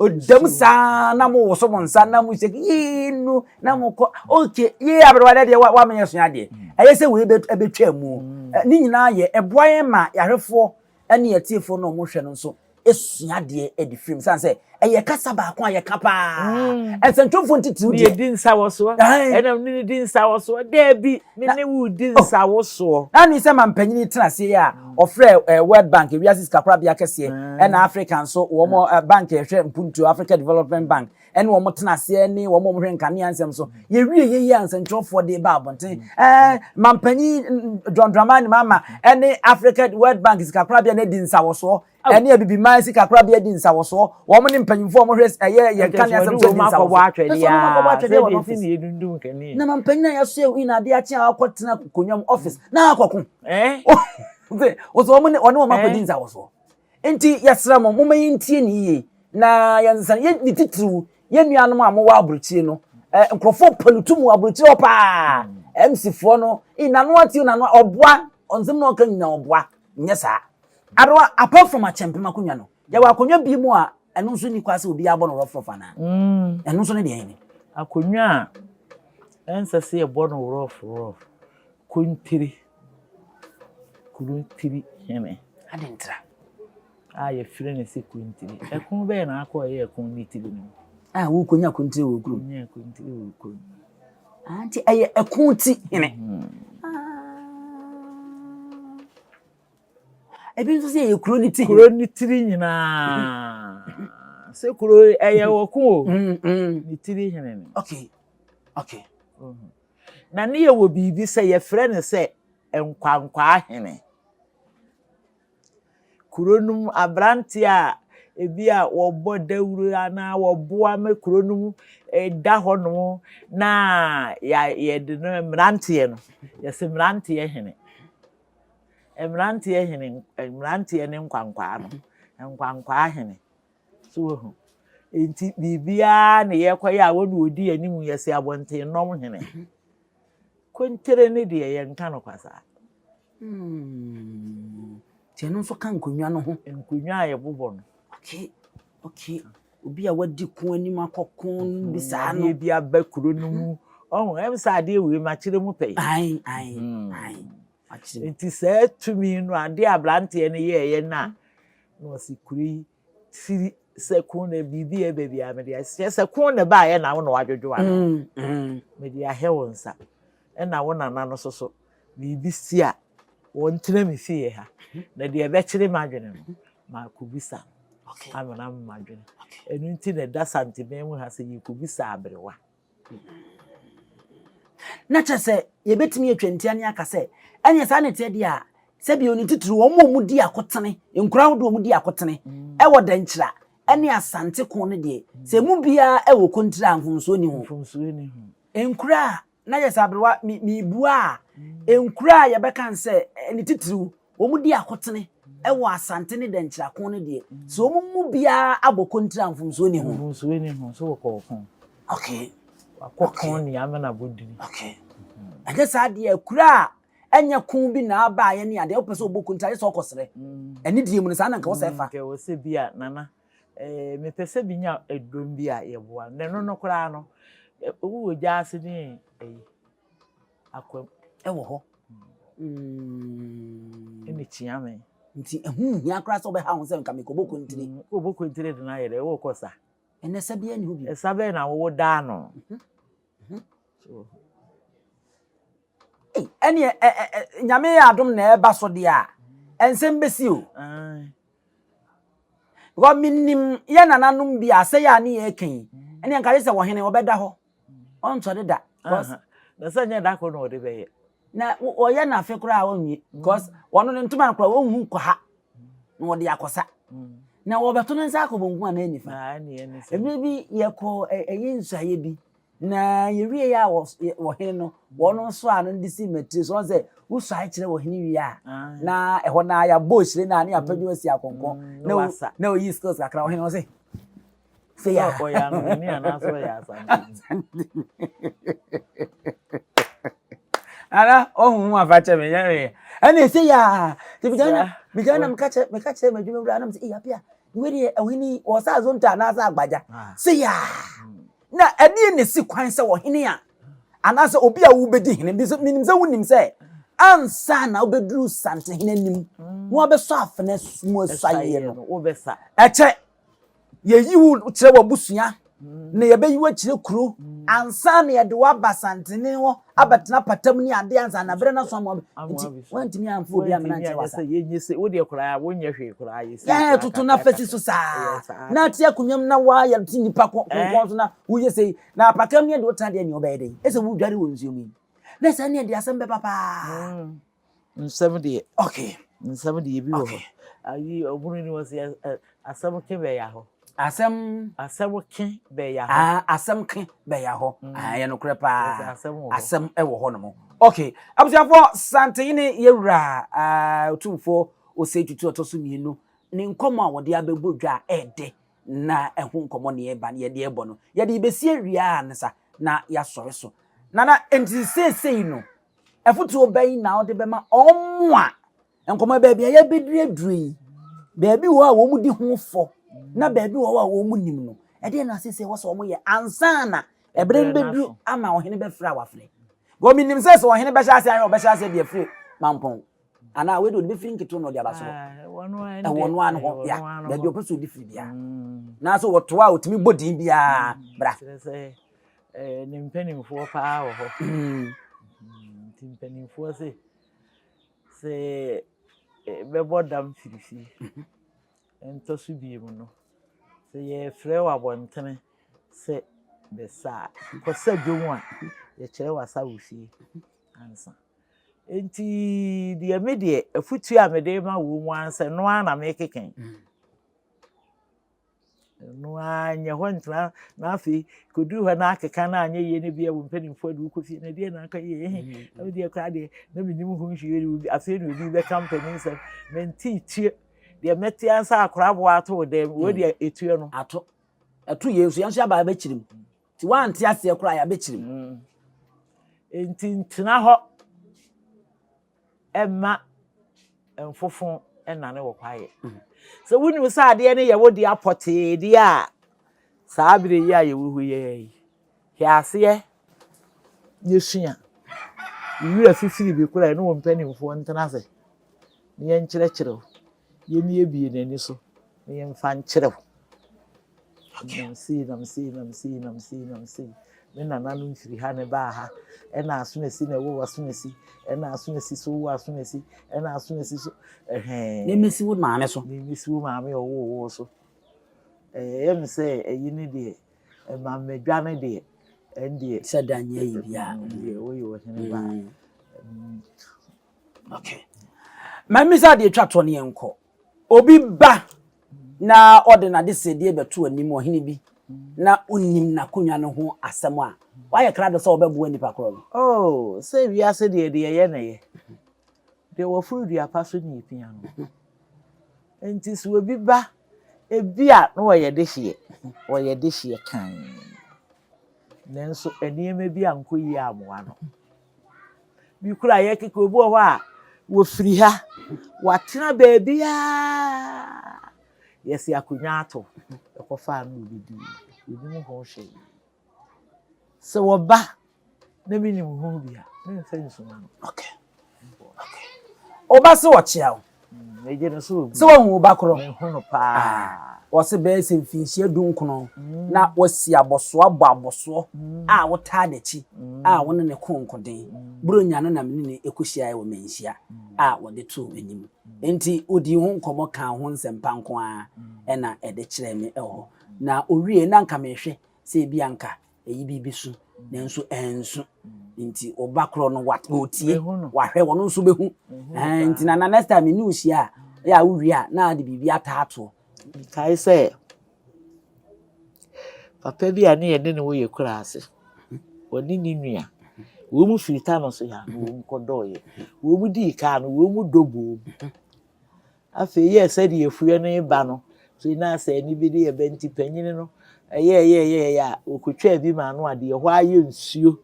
Ɔdam saa na mo woso mo nsa na mo sɛ yee nu na mo kɔ okay yee aberewa dɛ deɛ wa menyɛ sua deɛ ɛyɛ sɛ wei bɛtwa mu ne nyinaa yɛ ɛboa yɛn ma yɛahwɛfoɔ ne yɛtiefoɔ na wɔn hwɛ no nso esua deɛ ɛde firi mu san sɛ ɛyɛ kasa baako a yɛka paa nsɛntwomfoɔ ntitiriw deɛ di nsawɔsoɔ ɛnam ne ne di nsawɔsoɔ dɛbi ne ne wu di nsawɔsoɔ na ne sɛ ma mpanyini tena aseɛ a wɔfrɛ World Bank, Wiase Sikakorabea Kɛseɛ, na Africa nso, wɔn bank a ɛhwɛ mpuntuo, Africa Development Bank, ɛne wɔn tena aseɛ ne wɔn a wɔhwɛ nkanea nsɛm so. Yɛwie yɛ yi a nsɛntwerɛfoɔ de ba abɔnten. Ɛɛ, mampanyin John Dramani Mahama ne Africa World Bank Sikakorabea no adi nsawɔsoɔ ɛne Abibiman Sikakorabea di nsawɔsoɔ. Wɔn ne mpanyinfoɔ a wɔhwɛ ɛyɛ yɛn nkanea nsɛm so di nsawɔsoɔ. Ɛsɛ wɔn akɔbɔ atwɛdeɛ wɔ wɔn office. Na mampanyin a yɛasoɛ wɔ yi na adeɛ akye a wakɔtena akokonnwa mu office na akɔko. Eh? Okay, wɔsɛ wɔn ne wɔn akɔdi eh? nsa wɔ so. Nti yɛsrɛ mo, momma yɛntie ne yie na yɛnsa yɛ ne titiriw yɛn nuanom a mowɔ aburokyire no. Eh, nkurɔfoɔ pɛ no tu mu aburokyire hɔ paa. MCfoɔ no, nano ate nano ɔboa, ɔnsɛm na ɔka nyina ɔboa, nyɛ saa. Adewa, apart from akyɛmpem akonnwa no, Yɛwɔ akonnwa bi mu a ɛno nso nni kwa sɛ obiara bɔ no rɔfrɔf anaa? Mm. Ɛno nso ne deɛ ne. Akonnwa a ɛnsɛ sɛ yɛbɔ no rɔfrɔf, kontiri, kontiri hene. Adentra. A yɛfrɛ no sɛ kontiri. Ɛko bɛyɛ na akɔ ɛyɛ ɛko ne tiri no. A wokonya kontiri wɔ kurom. Wonya kontiri wɔ kurom. Nti ɛyɛ ɛko ti hene. Mm. Ebi nso sɛ ɛyɛ kuro no tiri. Kuro no tiri nyinaa. Sɛ kuro ɛyɛ ɔko o. Ne tiri hene no. Okay. Okay. Mm-hmm. Na ne yɛ wɔ biribi sɛ yɛfrɛ no sɛ nkwankwaa hene. Kuro no mu aberante a ebi a wɔbɔ dawuro anaa wɔboa ma kuro no mu ɛda hɔnom na yɛde no mmeranteɛ no yɛsɛ mmeranteɛ hene. Mmeranteɛ hene, mmeranteɛ ne nkwankwaa no, nkwankwaa hene. So wahu. Nti biribiara na yɛkɔyɛ a wɔn na wɔdi anim yɛse abɔntennɔm hene. Konkyere ne deɛ yɛnka no kwa saa. Hmm. Nti ɛno nso ka nkonnwa no ho. Nkonnwa a yɛbobɔ no. Okay. Okay, obi a wadi ko anim akɔko no bi saa no. Adeɛ bi aba kuro no mu. Ɔho, ɛm sɛ adeɛ wei makyerɛ mu pɛi. Ae, ae, hmm. ae. Nti saa tumi no adeɛ aberanteɛ no yɛɛyɛ no a, na ɔsi kuro yi firi sɛ kun na biribi yɛ baabi a mede ahyɛ sɛ kun na ba ayɛ na wo na wadwodwo ano mm, mm. mede ahɛ wo nsa ɛna wo nana no soso biribi si a, wɔntena me fie ha, na deɛ ɛbɛkyere m'adwene no, makɔbisa no. Okay. Ano na mma adwene. Okay. Ɛno nti na ɛda santeman mu ha sɛ yɛkɔbisa aberewa. Na kyerɛ sɛ yɛbɛtumi atwa ntia ne aka sɛ ɛnyɛ saa ne teɛ deɛ a sɛbi oni titiri wɔn a wɔdi akotene nkura ahodoɔ wɔn di akotene mm. ɛwɔ dɛnkyira ɛne asante ko no deɛ sɛ mu biara ɛwɔ kontiri a mfomsoɔ ni ho nkura a na yɛ sɛ aberewa mi mibua a nkura a yɛbɛka n sɛ ne titiriw wɔn di akotene wɔ asante ne dɛnkyira ko no deɛ sɛ wɔn mu biara abɔ kontiri a mfomsoɔ ni ho. mfomsoɔ ni ho so wɔkɔ ɔko. okay. wakɔ okay. ko ne amena bodini. okay. ɛnyɛ saa deɛ akura a ɛnyɛ ko bi na aba a yɛne adeɛ wopɛ sɛ wɔbɔ kontiri ayɛ sɛ ɔkɔsrɛ ɛne deɛ mu no saa na nka wɔ sɛ ɛfa. nkɛ wɔ sɛ bi a nana Eh, mepɛ sɛ menya ɛdɔm bi a yɛboa no. Na ɛno no koraa no, wowɔ gya ase ne ɛyi, akwam. Ɛwɔ hɔ. Mm. Ɛne kyia me. Nti ɛho hia koraa sɛ wobɛha ho sɛ nka mekɔbɔ kontire. Mm, wobɔ kontire de no ayɛ dɛ, wokɔ sa. Ɛnɛ sa biara ne ho bi. Ɛsa bɛn na wowo daa no. Mhm, mhm. Ɛneɛ nyame yɛ adom na ɛba so deɛ a, ɛnsɛm bɛsi o. Because menim yɛ nananom bi a sɛ yɛ a ne yɛ ɛka yi ɛne nka yɛ sɛ wɔhene ɔbɛda hɔ ɔnsɔre da because na sɛ nyɛ da koro na ɔde bɛyɛ na ɔyɛ na afe koraa ɔnwie because wɔn ne ntoma no koraa wɔn hu kɔ ha na wɔde akɔsa na wɔbɛto ne nsa akɔ bonkum anaa nifa ɛmɛ bi yɛkɔ ɛyi nsuayɛ bi Na yɛwiee a wɔ hene no, wɔn nso a no de si matiri so, wɔn sɛ, wosuae kyerɛ wɔ hene wie a, na ɛhɔ na yɛabɔ hyire no a, na yɛapɛ dwom asi akɔnkɔ, na ɔyi skills kakra wɔ hene no se, sɛ yɛ ɔyɛ anwene anaasɛ ɔyɛ asante ara ɔhu ho afa kyɛ me yɛre ɛna ɛsɛ yɛ a te bigana bigana meka kyɛ meka kyɛ m'adwuma wura anam sɛ ɛyɛ apia wei deɛ ɔhene ɔsɛ azonta anaasɛ agbagya sɛ yɛ a Na ɛdeɛn na ɛsi kwan sɛ ɔhene a anaasɛ obi a wobɛdi hene, menim sɛ wonim sɛ ansa na wobɛduru santehene anim na wabɛsɔ afena mu asuaeɛ no, ɛkyɛ yɛyi wo kyerɛ w'abusua na yɛbɛyi wo akyerɛ kuro ansa na yɛde wo aba santehene hɔ abɛtena patam ne adeɛ ansa na berɛ no so ama nti woantumi amfa obi amena nkyɛ wasa yɛ toto no afasi so saa na ate akonnwam na woayɛ te nnipa kɔnkɔn so na woyɛ sei na apakam ne ɛde wotena deɛ ne ɔbɛyɛ dɛn ɛsɛ wodware wɔ nsuo mu yi na saa ne ɛde asɛm bɛba paa nsɛm deɛ okay nsɛm deɛ bi wɔ hɔ ayi ɔbunu ni wɔn si asɛm ke bɛya hɔ asɛm asɛm ke bɛya hɔ aa asɛm ke bɛya hɔ mm. aa yɛ nokorɛ paa asɛm ɛwɔ hɔ nom okay abusuafoɔ santene yɛwura aa otumfoɔ ose tutu ɔtɔ so mmienu ne nkɔmɔ a wɔde abɛbɔ dwa a ɛɛdɛ na ɛho nkɔmɔ ne ɛba ne yɛde ɛbɔ no yɛde besie wia a ne sa na yɛasɔre so nana nti seesei no. Afotuo bɛn na wode bɛma wɔn a nkɔmɔ baabi a yɛbɛduru aduru yi baabi wɔ a wɔn di ho fɔ na baabi wɔ a wɔn nim no ɛdeɛ na asese wɔ sɛ wɔn yɛ ansana ɛbere no bɛduru ama ɔhene bɛfrɛ a wafrɛ wɔn nim sɛ sɛ ɔhene bɛhyɛ ase ayɛ ɔbɛhyɛ ase deɛ firi mampɔn anaa wei de ɔde bɛfiri nketewa na ɔde aba so ɛwɔ no ano hɔ ya baabi ɔpɛ sɛ ɔde firi biara mm. nanso wɔtoa a ɔtumi bɔ din biara mm. bra Ɛɛ ne mpanimfoɔ paa wɔ hɔ nti mpanimfoɔ se sɛ bɛbɔ dam firifiri ɛntɔ so biemu no sɛ yɛfrɛ wɔ abɔntene sɛ bɛsa a kɔsa dwom a yɛkyerɛ wasa wɔ fie ansa nti deɛ me deɛ afutuo a mede ma wɔ mu ara sɛ noa na mekekɛn. Ɛno ara nyɛ hɔ ntena na afei kɔduru hɔ na akeka no anyɛ yie no bia wo mpanimfoɔ de wokɔ fie na ɛdeɛ na aka yie ehe na wodeɛ koraa deɛ na menim ho hwee afei na obi bɛka mpanin nsɛm mentee tie deɛ mɛte ansa akora aboa ato wo dɛm wei deɛ ɛtuo no ato ɛto yɛn nso yɛn nso yɛaba abɛkyiri mu Nti woante aseɛ koraa yɛabɛkyere mu. Mm. Nti ntena hɔ ɛma mfofo ɛnane wɔ kwaeɛ. Mm. Sɛ wonim sɛ adeɛ no yɛwo deɛ apɔtee deɛ a saa berɛ yi a yɛwɔ hɔ yɛ yi hwɛ aseɛ ne sua. Wura fifiri bi koraa ne wɔ mpanimfoɔ ntena ase ne yɛnkyerɛkyerɛ wo. Yɛmmiebie n'ani so na yɛmfa nkyerɛ wo. Nam sei, nam sei, nam sei, nam sei, nam sei. Me nananom firi ha na ɛbaa ha. Ɛna asonasi na ɛwɔ w'asonasi. Ɛna asonasi so wɔ asonasi. Ɛna asonasi so ɛhɛn. Ne mmesi wo maame so. Ne mmesi wo maame a ɔwɔ wo so. Ɛyɛ me sɛ ɛyi ne deɛ ɛma mmadwa ne deɛ ɛndeɛ. Sɛ da nyɛ yi biara. Ɛndeɛ woyɛ ɔhene ba. Mm. Mm. Okay. Mami sɛ adeɛ twa toɔ ne yɛn kɔ. Obi ba na ɔde n'adesrɛdeɛ bɛto anim, ɔhene bi, na wonim n'akonnwa no ho asɛm a, wayɛ krado sɛ ɔbɛboa nnipa korɔ no. Oh, sɛ wiase deɛ deɛ ɛyɛ na ɛyɛ. Deɛ wɔforo dua pa so na ɛpia no. Enti sɛ obi ba, ebi a na ɔyɛ dehyeɛ, ɔyɛ dehyeɛ kann, nanso nneɛma bi ankɔ yie ammoa no. Bi koraa yɛ keke obi wɔ hɔ a wɔfiri ha wɔatena baabiaa yɛsi akonnwa ato ɛkɔ fa ano ɔbɛdi ɔnim ho hwee sɛ wɔba na menim ho bi a memfa nsuma no okay okay ɔba sɛ ɔkyea wo Megye no so obi. Sɛ wahu wo ba korɔ. Mehu no paa. Ah, wɔse bɛyɛ sɛ mfinhyia du nkono mm. na wasi abɔsoɔ abɔ abɔsoɔ mm. a wotaa n'akyi mm. a wo ne ne ko nkoden. Mm. Buronya no na me ne ne ɛkɔhyiaeɛ wɔ manhyia mm. a wɔde too m'anim. Mm. Enti ɔdii ho nkɔmmɔ kaa ho nsɛmpa nko ara mm. ɛna ɛde kyerɛɛ me ɛwɔ hɔ. Na ɔwie na nka mehwɛ sɛ ebi anka ɛyi biribi so nanso ɛnso nti ɔba korɔ no wa ɔtie wahwɛ wɔn nso bɛhu ɛn nti na na next time ne ohyia a yɛ a wowie a na ade biribi ataatoɔ. kae sɛ papa bi a ne yɛne ne woyɛ kura ase wɔne ne nua wɔn mu firi ta no so yɛ ano wɔn mu kɔdɔɔyɛ wɔn mu dii kaa no wɔn mu dɔ boom Afei yɛɛ sɛdeɛ afuiɛ no reba no, tee no ara sɛ ɛnne bi de reba, enti panin no yɛɛyɛɛyɛɛyɛ a, ɔkɔtwaa bi maa no a deɛ ɛhɔ ara yɛ nsuo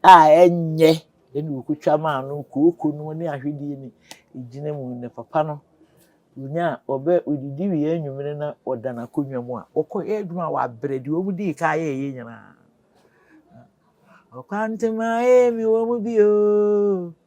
a ɛnyɛ ɛnna ɔkɔtwa maa no, kooko no ne ahwedeɛ no gyina mu, na papa no ɔnya ɔbɛ ɔdidi wie anwummere na ɔda n'akonnwa mu a, ɔkɔyɛ adwuma a wabrɛ deɛ wɔn dii kan yɛɛyɛ nyinaa. Ɔkwantema ee mewɔ mu bi oo.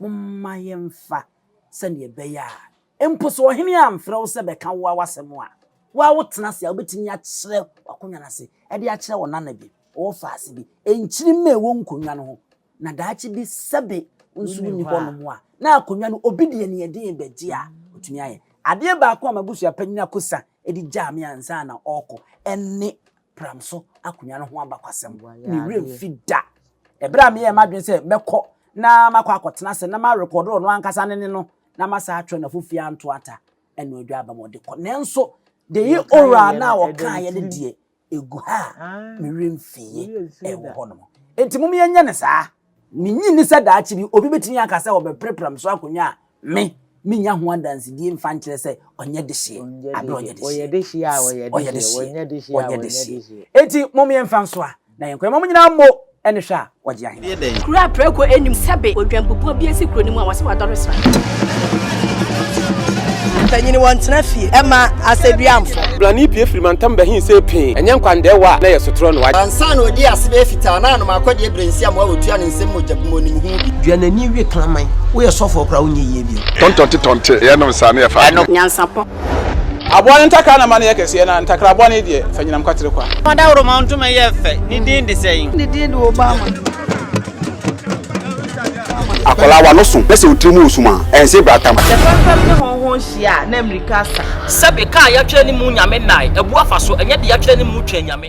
Momma yɛmfa sɛnea ɛbɛyɛ a mpo sɛ ɔhene amfrɛ wo sɛ bɛka wo a w'asɛm a, wo ara wotena ase a wubetumi akyerɛ w'akonnwa no ase de akyerɛ wo nana bi, ɔfaase bi, nkyirimma a ɛwɔ nkonnwa no ho, na daakye bi sɛbe wo nso wunni hɔnom a, na akonnwa no obi deɛ nea ɛden begye a, otumi ayɛ. Adeɛ baako a m'abusua panyin Akosa de gyaa me ansa na ɔrekɔ ne pram so akonnwa no ho abakwasɛm. Ne werɛ mfi da. Ɛberɛ a meyɛɛ m'adwene sɛ mɛkɔ na makɔ akɔtena ase na marekɔdo ɔno ankasa ne ne no na masan atwerɛ n'afo fie anto ata ɛno adwa aba ma ɔde kɔ. Nanso, deɛ owura no a ɔkaeɛ no deɛ, ɛgu ha a me werɛ mfiiɛ, ɛwɔ hɔnom. Enti mom yɛnyɛ no saa. Minnye nni sɛ daakye bi obi betumi aka sɛ ɔbɛpere Pramso akonnwa a me minnya ho adansedie mfa nkyerɛ sɛ ɔnyɛ dehyeɛ bere a ɔyɛ dehyeɛ. Ɔyɛ dehyeɛ a ɔyɛ dehyeɛ. Ɔyɛ dehyeɛ a ɔyɛ dehyeɛ. Enti mom yɛmfa nsoa na yɛnkɔ. Yɛma wɔn nyinaa mmo ne hwɛ a wɔgye ahene. Kuro a prɛko nnim sɛbe odwan bubuo bi asi kuro no mu a wɔse wadɔre sra. Mpanyin wɔ ntena fie ɛma asɛduamfo. Blani pie firi mantam bɛhen sɛ pee. Ɛnyɛ nkwandaɛ wɔ a na ɛyɛ sotorɔ noa. Ansa na ɔdii ase bɛyɛ fitaa na anom akɔdeɛ brensiam a ɔtua ne nsam mogya gu mu ɔnim ho bi. Dua n'ani we kraman. Woyɛ sɔfoɔ koraa wonyɛ yie bio. Tɔntɔnte tɔnte yɛ nom saa na yɛ fa adwene. Nyansapɔ. Aboa no ntakra na ma no yɛ kɛseɛ na ntakra aboa no yi deɛ fa nyinam kwatere kwa. Fa daworomaw ntoma yɛ fɛ, ne din de sɛn? Ne din de Obama. Akwadaa wa no so na sɛ otiri mu wɔ sum a, ɛnse bra tam. Sɛ fɛmfɛm ne hɔnhɔn hyia a, na mmirika asa. Sɛbe, ka a yɛatwerɛ ne mu Nyame nnae, abu afa so, ɛnyɛ deɛ yɛatwerɛ ne mu twɛn Nyame.